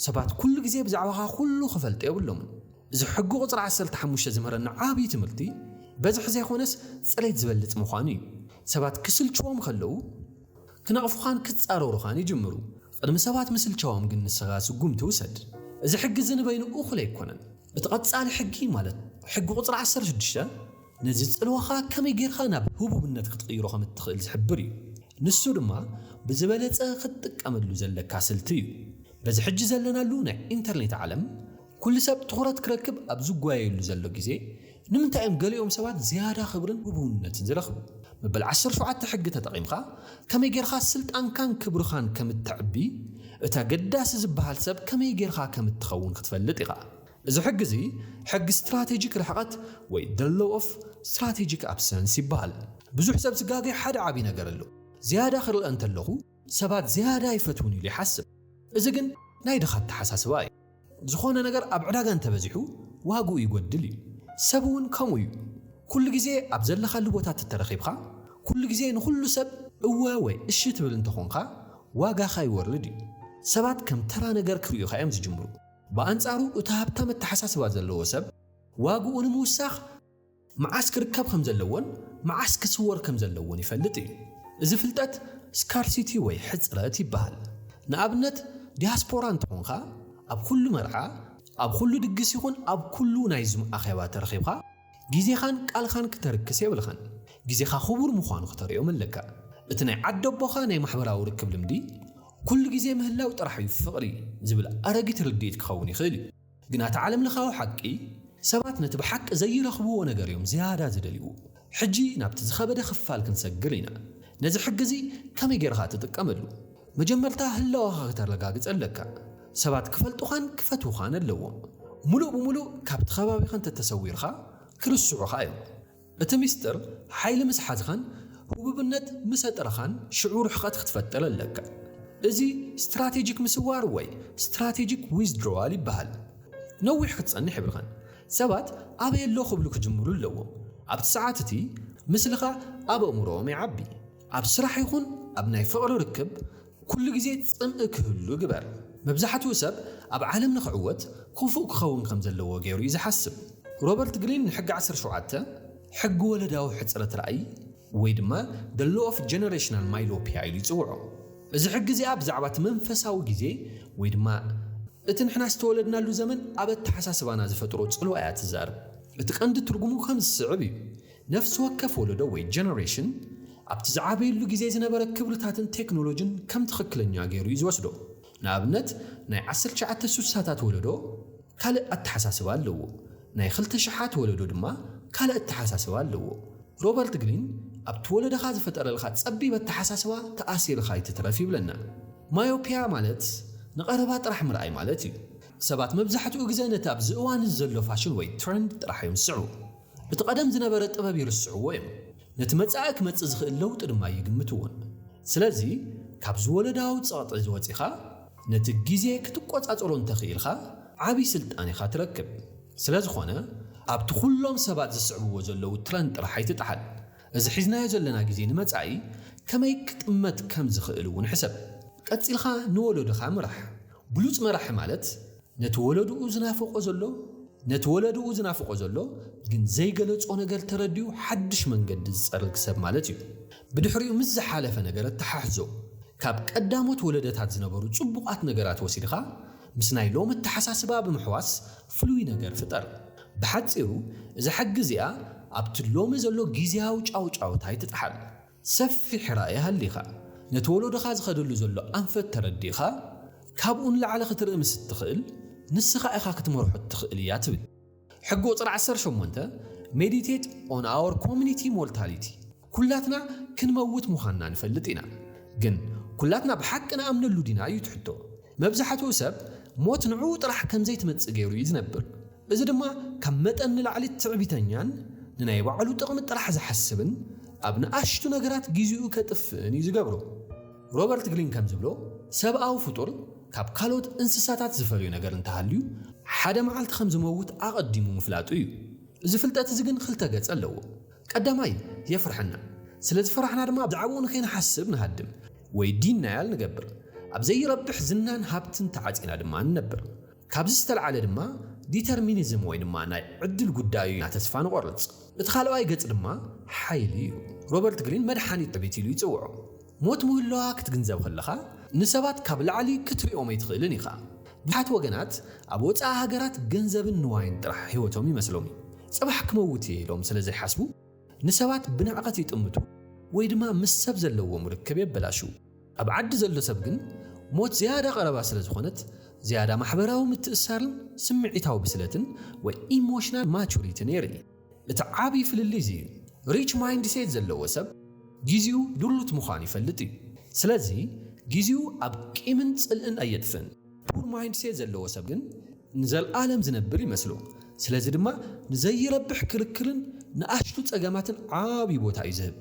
ሰባት ኩሉ ግዜ ብዛዕባኻ ኩሉ ክፈልጡ የብሎምን። እዚ ሕጊ ቁጽሪ ዓሰርተ ሓሙሽተ ዝምህረና ዓብይ ትምህርቲ በዝሒ ዘይኮነስ ጽሬት ዝበልጽ ምዃኑ እዩ። ሰባት ክስልችዎም ከለው ክነቕፉኻን ክጻረሩኻን ይጅምሩ። ቕድሚ ሰባት ምስልቻዎም ግን ንስኻ ስጉምቲ ውሰድ። እዚ ሕጊ እዚ ንበይኑ እኹል ኣይኮነን። እቲ ቐጻሊ ሕጊ ማለት ሕጊ ቁጽሪ ዓሰርተ ሽዱሽተ ነዚ ጽልዋኻ ከመይ ጌርካ ናብ ህቡብነት ክትቕይሮ ከም እትኽእል ዝሕብር እዩ። ንሱ ድማ ብዝበለጸ ክትጥቀመሉ ዘለካ ስልቲ እዩ። በዚ ሕጂ ዘለናሉ ናይ ኢንተርኔት ዓለም ኵሉ ሰብ ትዅረት ክረክብ ኣብ ዝጓየየሉ ዘሎ ግዜ፣ ንምንታይ እዮም ገሊኦም ሰባት ዝያዳ ኽብርን ህቡብነትን ዚረኽቡ? መበል ዓሰርተ ሸውዓተ ሕጊ ተጠቒምካ፣ ከመይ ጌርካ ስልጣንካን ክብርኻን ከም እተዕቢ፣ እቲ ኣገዳሲ ዚብሃል ሰብ ከመይ ጌርካ ከም እትኸውን ኽትፈልጥ ኢኻ። እዚ ሕጊ እዚ፣ ሕጊ ስትራተጂክ ርሕቐት ወይ The Law of Strategic Absence ይብሃል። ብዙሕ ሰብ ዚጋገ ሓደ ዓብዪ ነገር ኣሎ። ዝያዳ ኽርኣ እንተለኹ፣ ሰባት ዝያዳ ይፈትዉኒ ኢሉ ይሓስብ። እዚ ግን ናይ ድኻ ኣተሓሳስባ እዩ። ዝኾነ ነገር ኣብ ዕዳጋ እንተበዚሑ ዋግኡ ይጎድል እዩ። ሰብ እውን ከምኡ እዩ። ኩሉ ግዜ ኣብ ዘለኻሉ ቦታ ተተረኺብኻ፣ ኩሉ ግዜ ንኹሉ ሰብ እወ ወይ እሺ ትብል እንተኾንካ ዋጋኻ ይወርድ እዩ። ሰባት ከም ተራ ነገር ክርእዩኻ እዮም ዝጅምሩ። ብኣንጻሩ እቲ ሃብታም ኣተሓሳስባ ዘለዎ ሰብ ዋግኡ ንምውሳኽ፣ መዓስ ክርከብ ከም ዘለዎን መዓስ ክስወር ከም ዘለዎን ይፈልጥ እዩ። እዚ ፍልጠት ስካርሲቲ ወይ ሕጽረት ይበሃል። ንኣብነት ዲያስፖራ እንተኾንካ ኣብ ኩሉ መርዓ፣ ኣብ ኩሉ ድግስ ይኹን ኣብ ኩሉ ናይ ዙም ኣኼባ ተረኺብካ ግዜኻን ቃልኻን ክተርክስ የብልካን። ግዜኻ ክቡር ምዃኑ ክተርእዮም ኣለካ። እቲ ናይ ዓደቦኻ ናይ ማሕበራዊ ርክብ ልምዲ ኩሉ ግዜ ምህላው ጥራሕ እዩ ፍቕሪ ዝብል ኣረጊት ርድኢት ክኸውን ይኽእል እዩ። ግና እቲ ዓለምለኻዊ ሓቂ፣ ሰባት ነቲ ብሓቂ ዘይረኽብዎ ነገር እዮም ዝያዳ ዝደልይዎ። ሕጂ ናብቲ ዝኸበደ ክፋል ክንሰግር ኢና። ነዚ ሕጊ እዚ ከመይ ጌርኻ ትጥቀመሉ? መጀመርታ ህላወኻ ከተረጋግጽ ኣለካ። ሰባት ክፈልጡኻን ክፈትዉኻን ኣለዎም። ምሉእ ብምሉእ ካብቲ ከባቢኻ እንተ ተሰዊርካ፣ ክርስዑኻ እዮም። እቲ ሚስጥር ሓይሊ ምስ ሓዝኻን ህቡብነት ምስ ኣጥረኻን ሽዑ ርሕቐት ክትፈጥር ኣለካ። እዚ ስትራቴጂክ ምስዋር ወይ ስትራቴጂክ ዊዝድሮዋል ይበሃል። ነዊሕ ክትጸንሕ የብልካን። ሰባት ኣበይ ኣሎ ክብሉ ክጅምሩ ኣለዎም። ኣብቲ ሰዓት እቲ ምስልኻ ኣብ ኣእምሮኦም ይዓቢ። ኣብ ስራሕ ይኹን ኣብ ናይ ፍቕሪ ርክብ ኩሉ ግዜ ጽምኢ ክህሉ ግበር። መብዛሕትኡ ሰብ ኣብ ዓለም ንኽዕወት ክፉእ ክኸውን ከም ዘለዎ ገይሩ እዩ ዝሓስብ። ሮበርት ግሪን ንሕጊ ዓሰርተ ሸውዓተ፣ ሕጊ ወለዳዊ ሕጽረት ራእይ ወይ ድማ The Law of Generational Myopia ኢሉ ይጽውዖ። እዚ ሕጊ እዚኣ ብዛዕባ እቲ መንፈሳዊ ግዜ ወይ ድማ እቲ ንሕና ዝተወለድናሉ ዘመን ኣብ ኣተሓሳስባና ዝፈጥሮ ጽልዋ እያ እትዛረብ። እቲ ቀንዲ ትርጉሙ ከም ዝስዕብ እዩ፣ ነፍሲ ወከፍ ወለዶ ወይ ጀነሬሽን ኣብቲ ዝዓበየሉ ግዜ ዝነበረ ክብርታትን ቴክኖሎጅን ከም ትኽክለኛ ገይሩ እዩ ዝወስዶ። ንኣብነት ናይ ዓሰርተ ትሽዓተ ስሳታት ወለዶ ካልእ ኣተሓሳስባ ኣለዎ፣ ናይ ክልተ ሽሓት ወለዶ ድማ ካልእ ኣተሓሳስባ ኣለዎ። ሮበርት ግሪን ኣብቲ ወለደኻ ዝፈጠረልካ ጸቢብ ኣተሓሳስባ ተኣሲርኻ ኣይትትረፍ ይብለና። ማዮፒያ ማለት ንቐረባ ጥራሕ ምርኣይ ማለት እዩ። ሰባት መብዛሕትኡ ግዘ ነቲ ኣብዚ እዋን እዚ ዘሎ ፋሽን ወይ ትረንድ ጥራሕ እዮም ዝስዕቡ። እቲ ቀደም ዝነበረ ጥበብ ይርስዕዎ እዮም፣ ነቲ መጻኢ ክመጽእ ዝኽእል ለውጢ ድማ ኣይግምትዎን። ስለዚ ካብዚ ወለዳዊ ጸቕጢ እዚ ወጺኻ ነቲ ግዜ ክትቆጻጸሮ እንተ ክኢልካ ዓቢ ስልጣን ኢኻ ትረክብ። ስለ ዝኾነ ኣብቲ ኩሎም ሰባት ዝስዕብዎ ዘለዉ ትረንድ ጥራሕ ኣይትጥሓል። እዚ ሒዝናዮ ዘለና ግዜ ንመጻኢ ከመይ ክጥመት ከም ዝኽእል እውን ሕሰብ። ቀጺልካ ንወለዶኻ ምራሕ። ብሉጽ መራሒ ማለት ነቲ ወለድኡ ዝናፍቖ ዘሎ ነቲ ወለድኡ ዝናፍቖ ዘሎ ግን ዘይገለጾ ነገር ተረዲኡ ሓድሽ መንገዲ ዝጸርግ ሰብ ማለት እዩ። ብድሕሪኡ ምስ ዝሓለፈ ነገር ኣተሓሕዞ። ካብ ቀዳሞት ወለደታት ዝነበሩ ጽቡቓት ነገራት ወሲድኻ ምስ ናይ ሎሚ ኣተሓሳስባ ብምሕዋስ ፍሉይ ነገር ፍጠር። ብሓጺሩ እዛ ሕጊ እዚኣ ኣብቲ ሎሚ ዘሎ ግዝያዊ ጫውጫውታ ኣይትጥሓል። ሰፊሕ ራኢ ሃሊኻ፣ ነቲ ወሎዶኻ ዝኸደሉ ዘሎ ኣንፈት ተረዲእኻ፣ ካብኡ ንላዕሊ ክትርኢ ምስ እትኽእል፣ ንስኻ ኢኻ ክትመርሖ እትኽእል እያ ትብል ሕጊ ቁጽሪ ዓሰርተ ሸሞንተ፣ Meditate on our community mortality፣ ኩላትና ክንመውት ምዃንና ንፈልጥ ኢና፣ ግን ኩላትና ብሓቂ ንኣምነሉ ዲና? እዩ እቲ ሕቶ። መብዛሕትኡ ሰብ ሞት ንዕኡ ጥራሕ ከም ዘይትመጽእ ገይሩ እዩ ዝነብር። እዚ ድማ ካብ መጠን ንላዕሊ ትዕቢተኛን ንናይ ባዕሉ ጥቕሚ ጥራሕ ዝሓስብን ኣብ ንኣሽቱ ነገራት ግዜኡ ከጥፍእን እዩ ዝገብሮ። ሮበርት ግሪን ከም ዝብሎ፣ ሰብኣዊ ፍጡር ካብ ካልኦት እንስሳታት ዝፈልዮ ነገር እንተሃልዩ፣ ሓደ መዓልቲ ከም ዝመውት ኣቐዲሙ ምፍላጡ እዩ። እዚ ፍልጠት እዚ ግን ክልተ ገጽ ኣለዎ። ቀዳማይ፣ የፍርሐና። ስለ ዝፈራሕና ድማ ብዛዕባኡ ንከይንሓስብ ንሃድም ወይ ዲናያል ንገብር። ኣብ ዘይረብሕ ዝናን ሃብትን ተዓጺና ድማ ንነብር። ካብዚ ዝተልዓለ ድማ ዲተርሚኒዝም ወይ ድማ ናይ ዕድል ጉዳይ እዩ ኢልና ተስፋ ንቖርጽ። እቲ ካልኣዋይ ገጽ ድማ ሓይሊ እዩ። ሮበርት ግሪን መድሓኒት ዕብይቲ ኢሉ ይጽውዖ። ሞት ምህላዋ ክትግንዘብ ከለኻ ንሰባት ካብ ላዕሊ ክትሪኦም ኣይትኽእልን ኢኻ። ብዙሓት ወገናት ኣብ ወጻኢ ሃገራት ገንዘብን ንዋይን ጥራሕ ህይወቶም ይመስሎም እዩ። ጽባሕ ክመውት እየ ኢሎም ስለ ዘይሓስቡ ንሰባት ብንዕቐት ይጥምቱ ወይ ድማ ምስ ሰብ ዘለዎም ርክብ የበላሽዉ። ኣብ ዓዲ ዘሎ ሰብ ግን ሞት ዝያዳ ቀረባ ስለ ዝኾነት ዝያዳ ማሕበራዊ ምትእስሳርን ስምዒታዊ ብስለትን ወይ ኢሞሽናል ማቹሪትን የርኢ። እቲ ዓቢ ፍልልይ እዚ እዩ። ሪች ማይንድሴት ዘለዎ ሰብ ጊዚኡ ድሩት ምዃኑ ይፈልጥ እዩ። ስለዚ ጊዚኡ ኣብ ቂምን ጽልእን ኣየጥፍእን። ፑር ማይንድሴት ዘለዎ ሰብ ግን ንዘልኣለም ዝነብር ይመስሎ። ስለዚ ድማ ንዘይረብሕ ክርክርን ንኣሽቱ ጸገማትን ዓቢ ቦታ እዩ ዝህብ።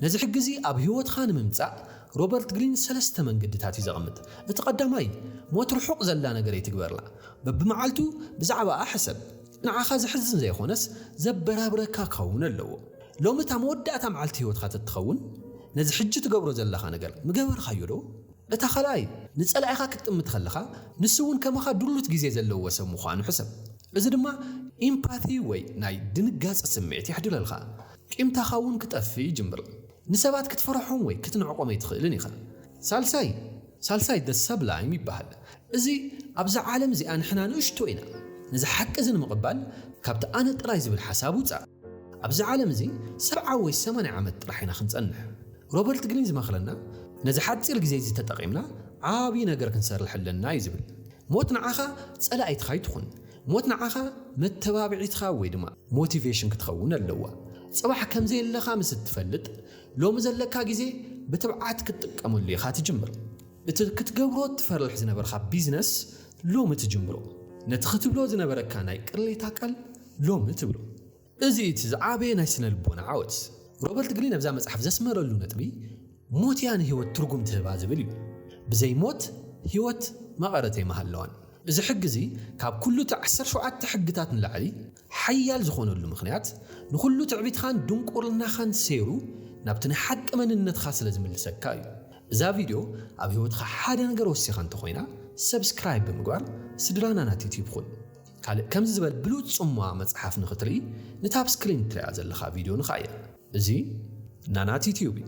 ነዚ ሕጊ'ዚ ኣብ ህይወትካ ንምምጻእ ሮበርት ግሪን ሰለስተ መንገድታት እዩ ዘቐምጥ። እቲ ቀዳማይ፣ ሞት ርሑቕ ዘላ ነገር ኣይትግበርላ። በብመዓልቱ ብዛዕባኣ ሕሰብ። ንዓኻ ዘሕዝን ዘይኾነስ ዘበራብረካ ክኸውን ኣለዎ። ሎሚ እታ መወዳእታ መዓልቲ ህይወትካ ተትኸውን፣ ነዚ ሕጂ ትገብሮ ዘለኻ ነገር ምገበርካዮዶ? እታ ካልኣይ፣ ንጸላኢኻ ክትጥምት ከለኻ ንሱ'ውን ከማኻ ድሉት ግዜ ዘለዎ ሰብ ምዃኑ ሕሰብ። እዚ ድማ ኢምፓቲ ወይ ናይ ድንጋጸ ስምዒት የሕድረልካ። ቂምታኻ እውን ክጠፍእ ይጅምር። ንሰባት ክትፈርሖም ወይ ክትንዕቆም ኣይትኽእልን ኢኻ። ሳልሳይ ሳልሳይ the sublime ይበሃል። እዚ ኣብዛ ዓለም እዚኣ ንሕና ንእሽቶ ኢና። ነዚ ሓቂ እዚ ንምቕባል ካብቲ ኣነ ጥራይ ዝብል ሓሳብ ውጻእ። ኣብዚ ዓለም እዚ ሰብዓ ወይ ሰማንያ ዓመት ጥራሕ ኢና ክንጸንሕ። ሮበርት ግሪን ዝመኽረና ነዚ ሓጺር ግዜ እዚ ተጠቒምና ዓቢ ነገር ክንሰርሕ ኣለና እዩ ዝብል። ሞት ንዓኻ ጸላኢትኻ ኣይትኹን። ሞት ንዓኻ መተባብዒትኻ ወይ ድማ ሞቲቬሽን ክትኸውን ኣለዋ። ጽባሕ ከም ዘየለኻ ምስ እትፈልጥ፣ ሎሚ ዘለካ ግዜ ብትብዓት ክትጥቀመሉ ኢኻ ትጅምር። እቲ ክትገብሮ እትፈርሕ ዝነበርካ ቢዝነስ ሎሚ ትጅምሮ። ነቲ ክትብሎ ዝነበረካ ናይ ቅሬታ ቃል ሎሚ ትብሎ። እዚ እዩ እቲ ዝዓበየ ናይ ስነ-ልቦና ዓወት። ሮበርት ግሪን ኣብዛ መጽሓፍ ዘስመረሉ ነጥቢ፣ ሞት እያ ንህይወት ትርጉም ትህባ ዝብል እዩ። ብዘይ ሞት ህይወት መቐረት ኣይምሃለዋን። እዚ ሕጊ እዚ ካብ ኩሉ እቲ ዓሰርተ ሸውዓተ ሕግታት ንላዕሊ ሓያል ዝኾነሉ ምኽንያት፣ ንኹሉ ትዕቢትኻን ድንቁርናኻን ሰይሩ ናብቲ ናይ ሓቂ መንነትካ ስለ ዝምልሰካ እዩ። እዛ ቪድዮ ኣብ ህይወትኻ ሓደ ነገር ወሲኻ እንተኾይና፣ ሰብስክራይብ ብምግባር ስድራና ናት ዩትዩብ ኹን። ካልእ ከምዚ ዝበል ብሉጽ ጽምዋ መጽሓፍ ንክትርኢ ንታ ኣብ ስክሪን ትሪኣ ዘለካ ቪድዮ ንካ እያ እዚ ናና ቲትዩብ እዩ።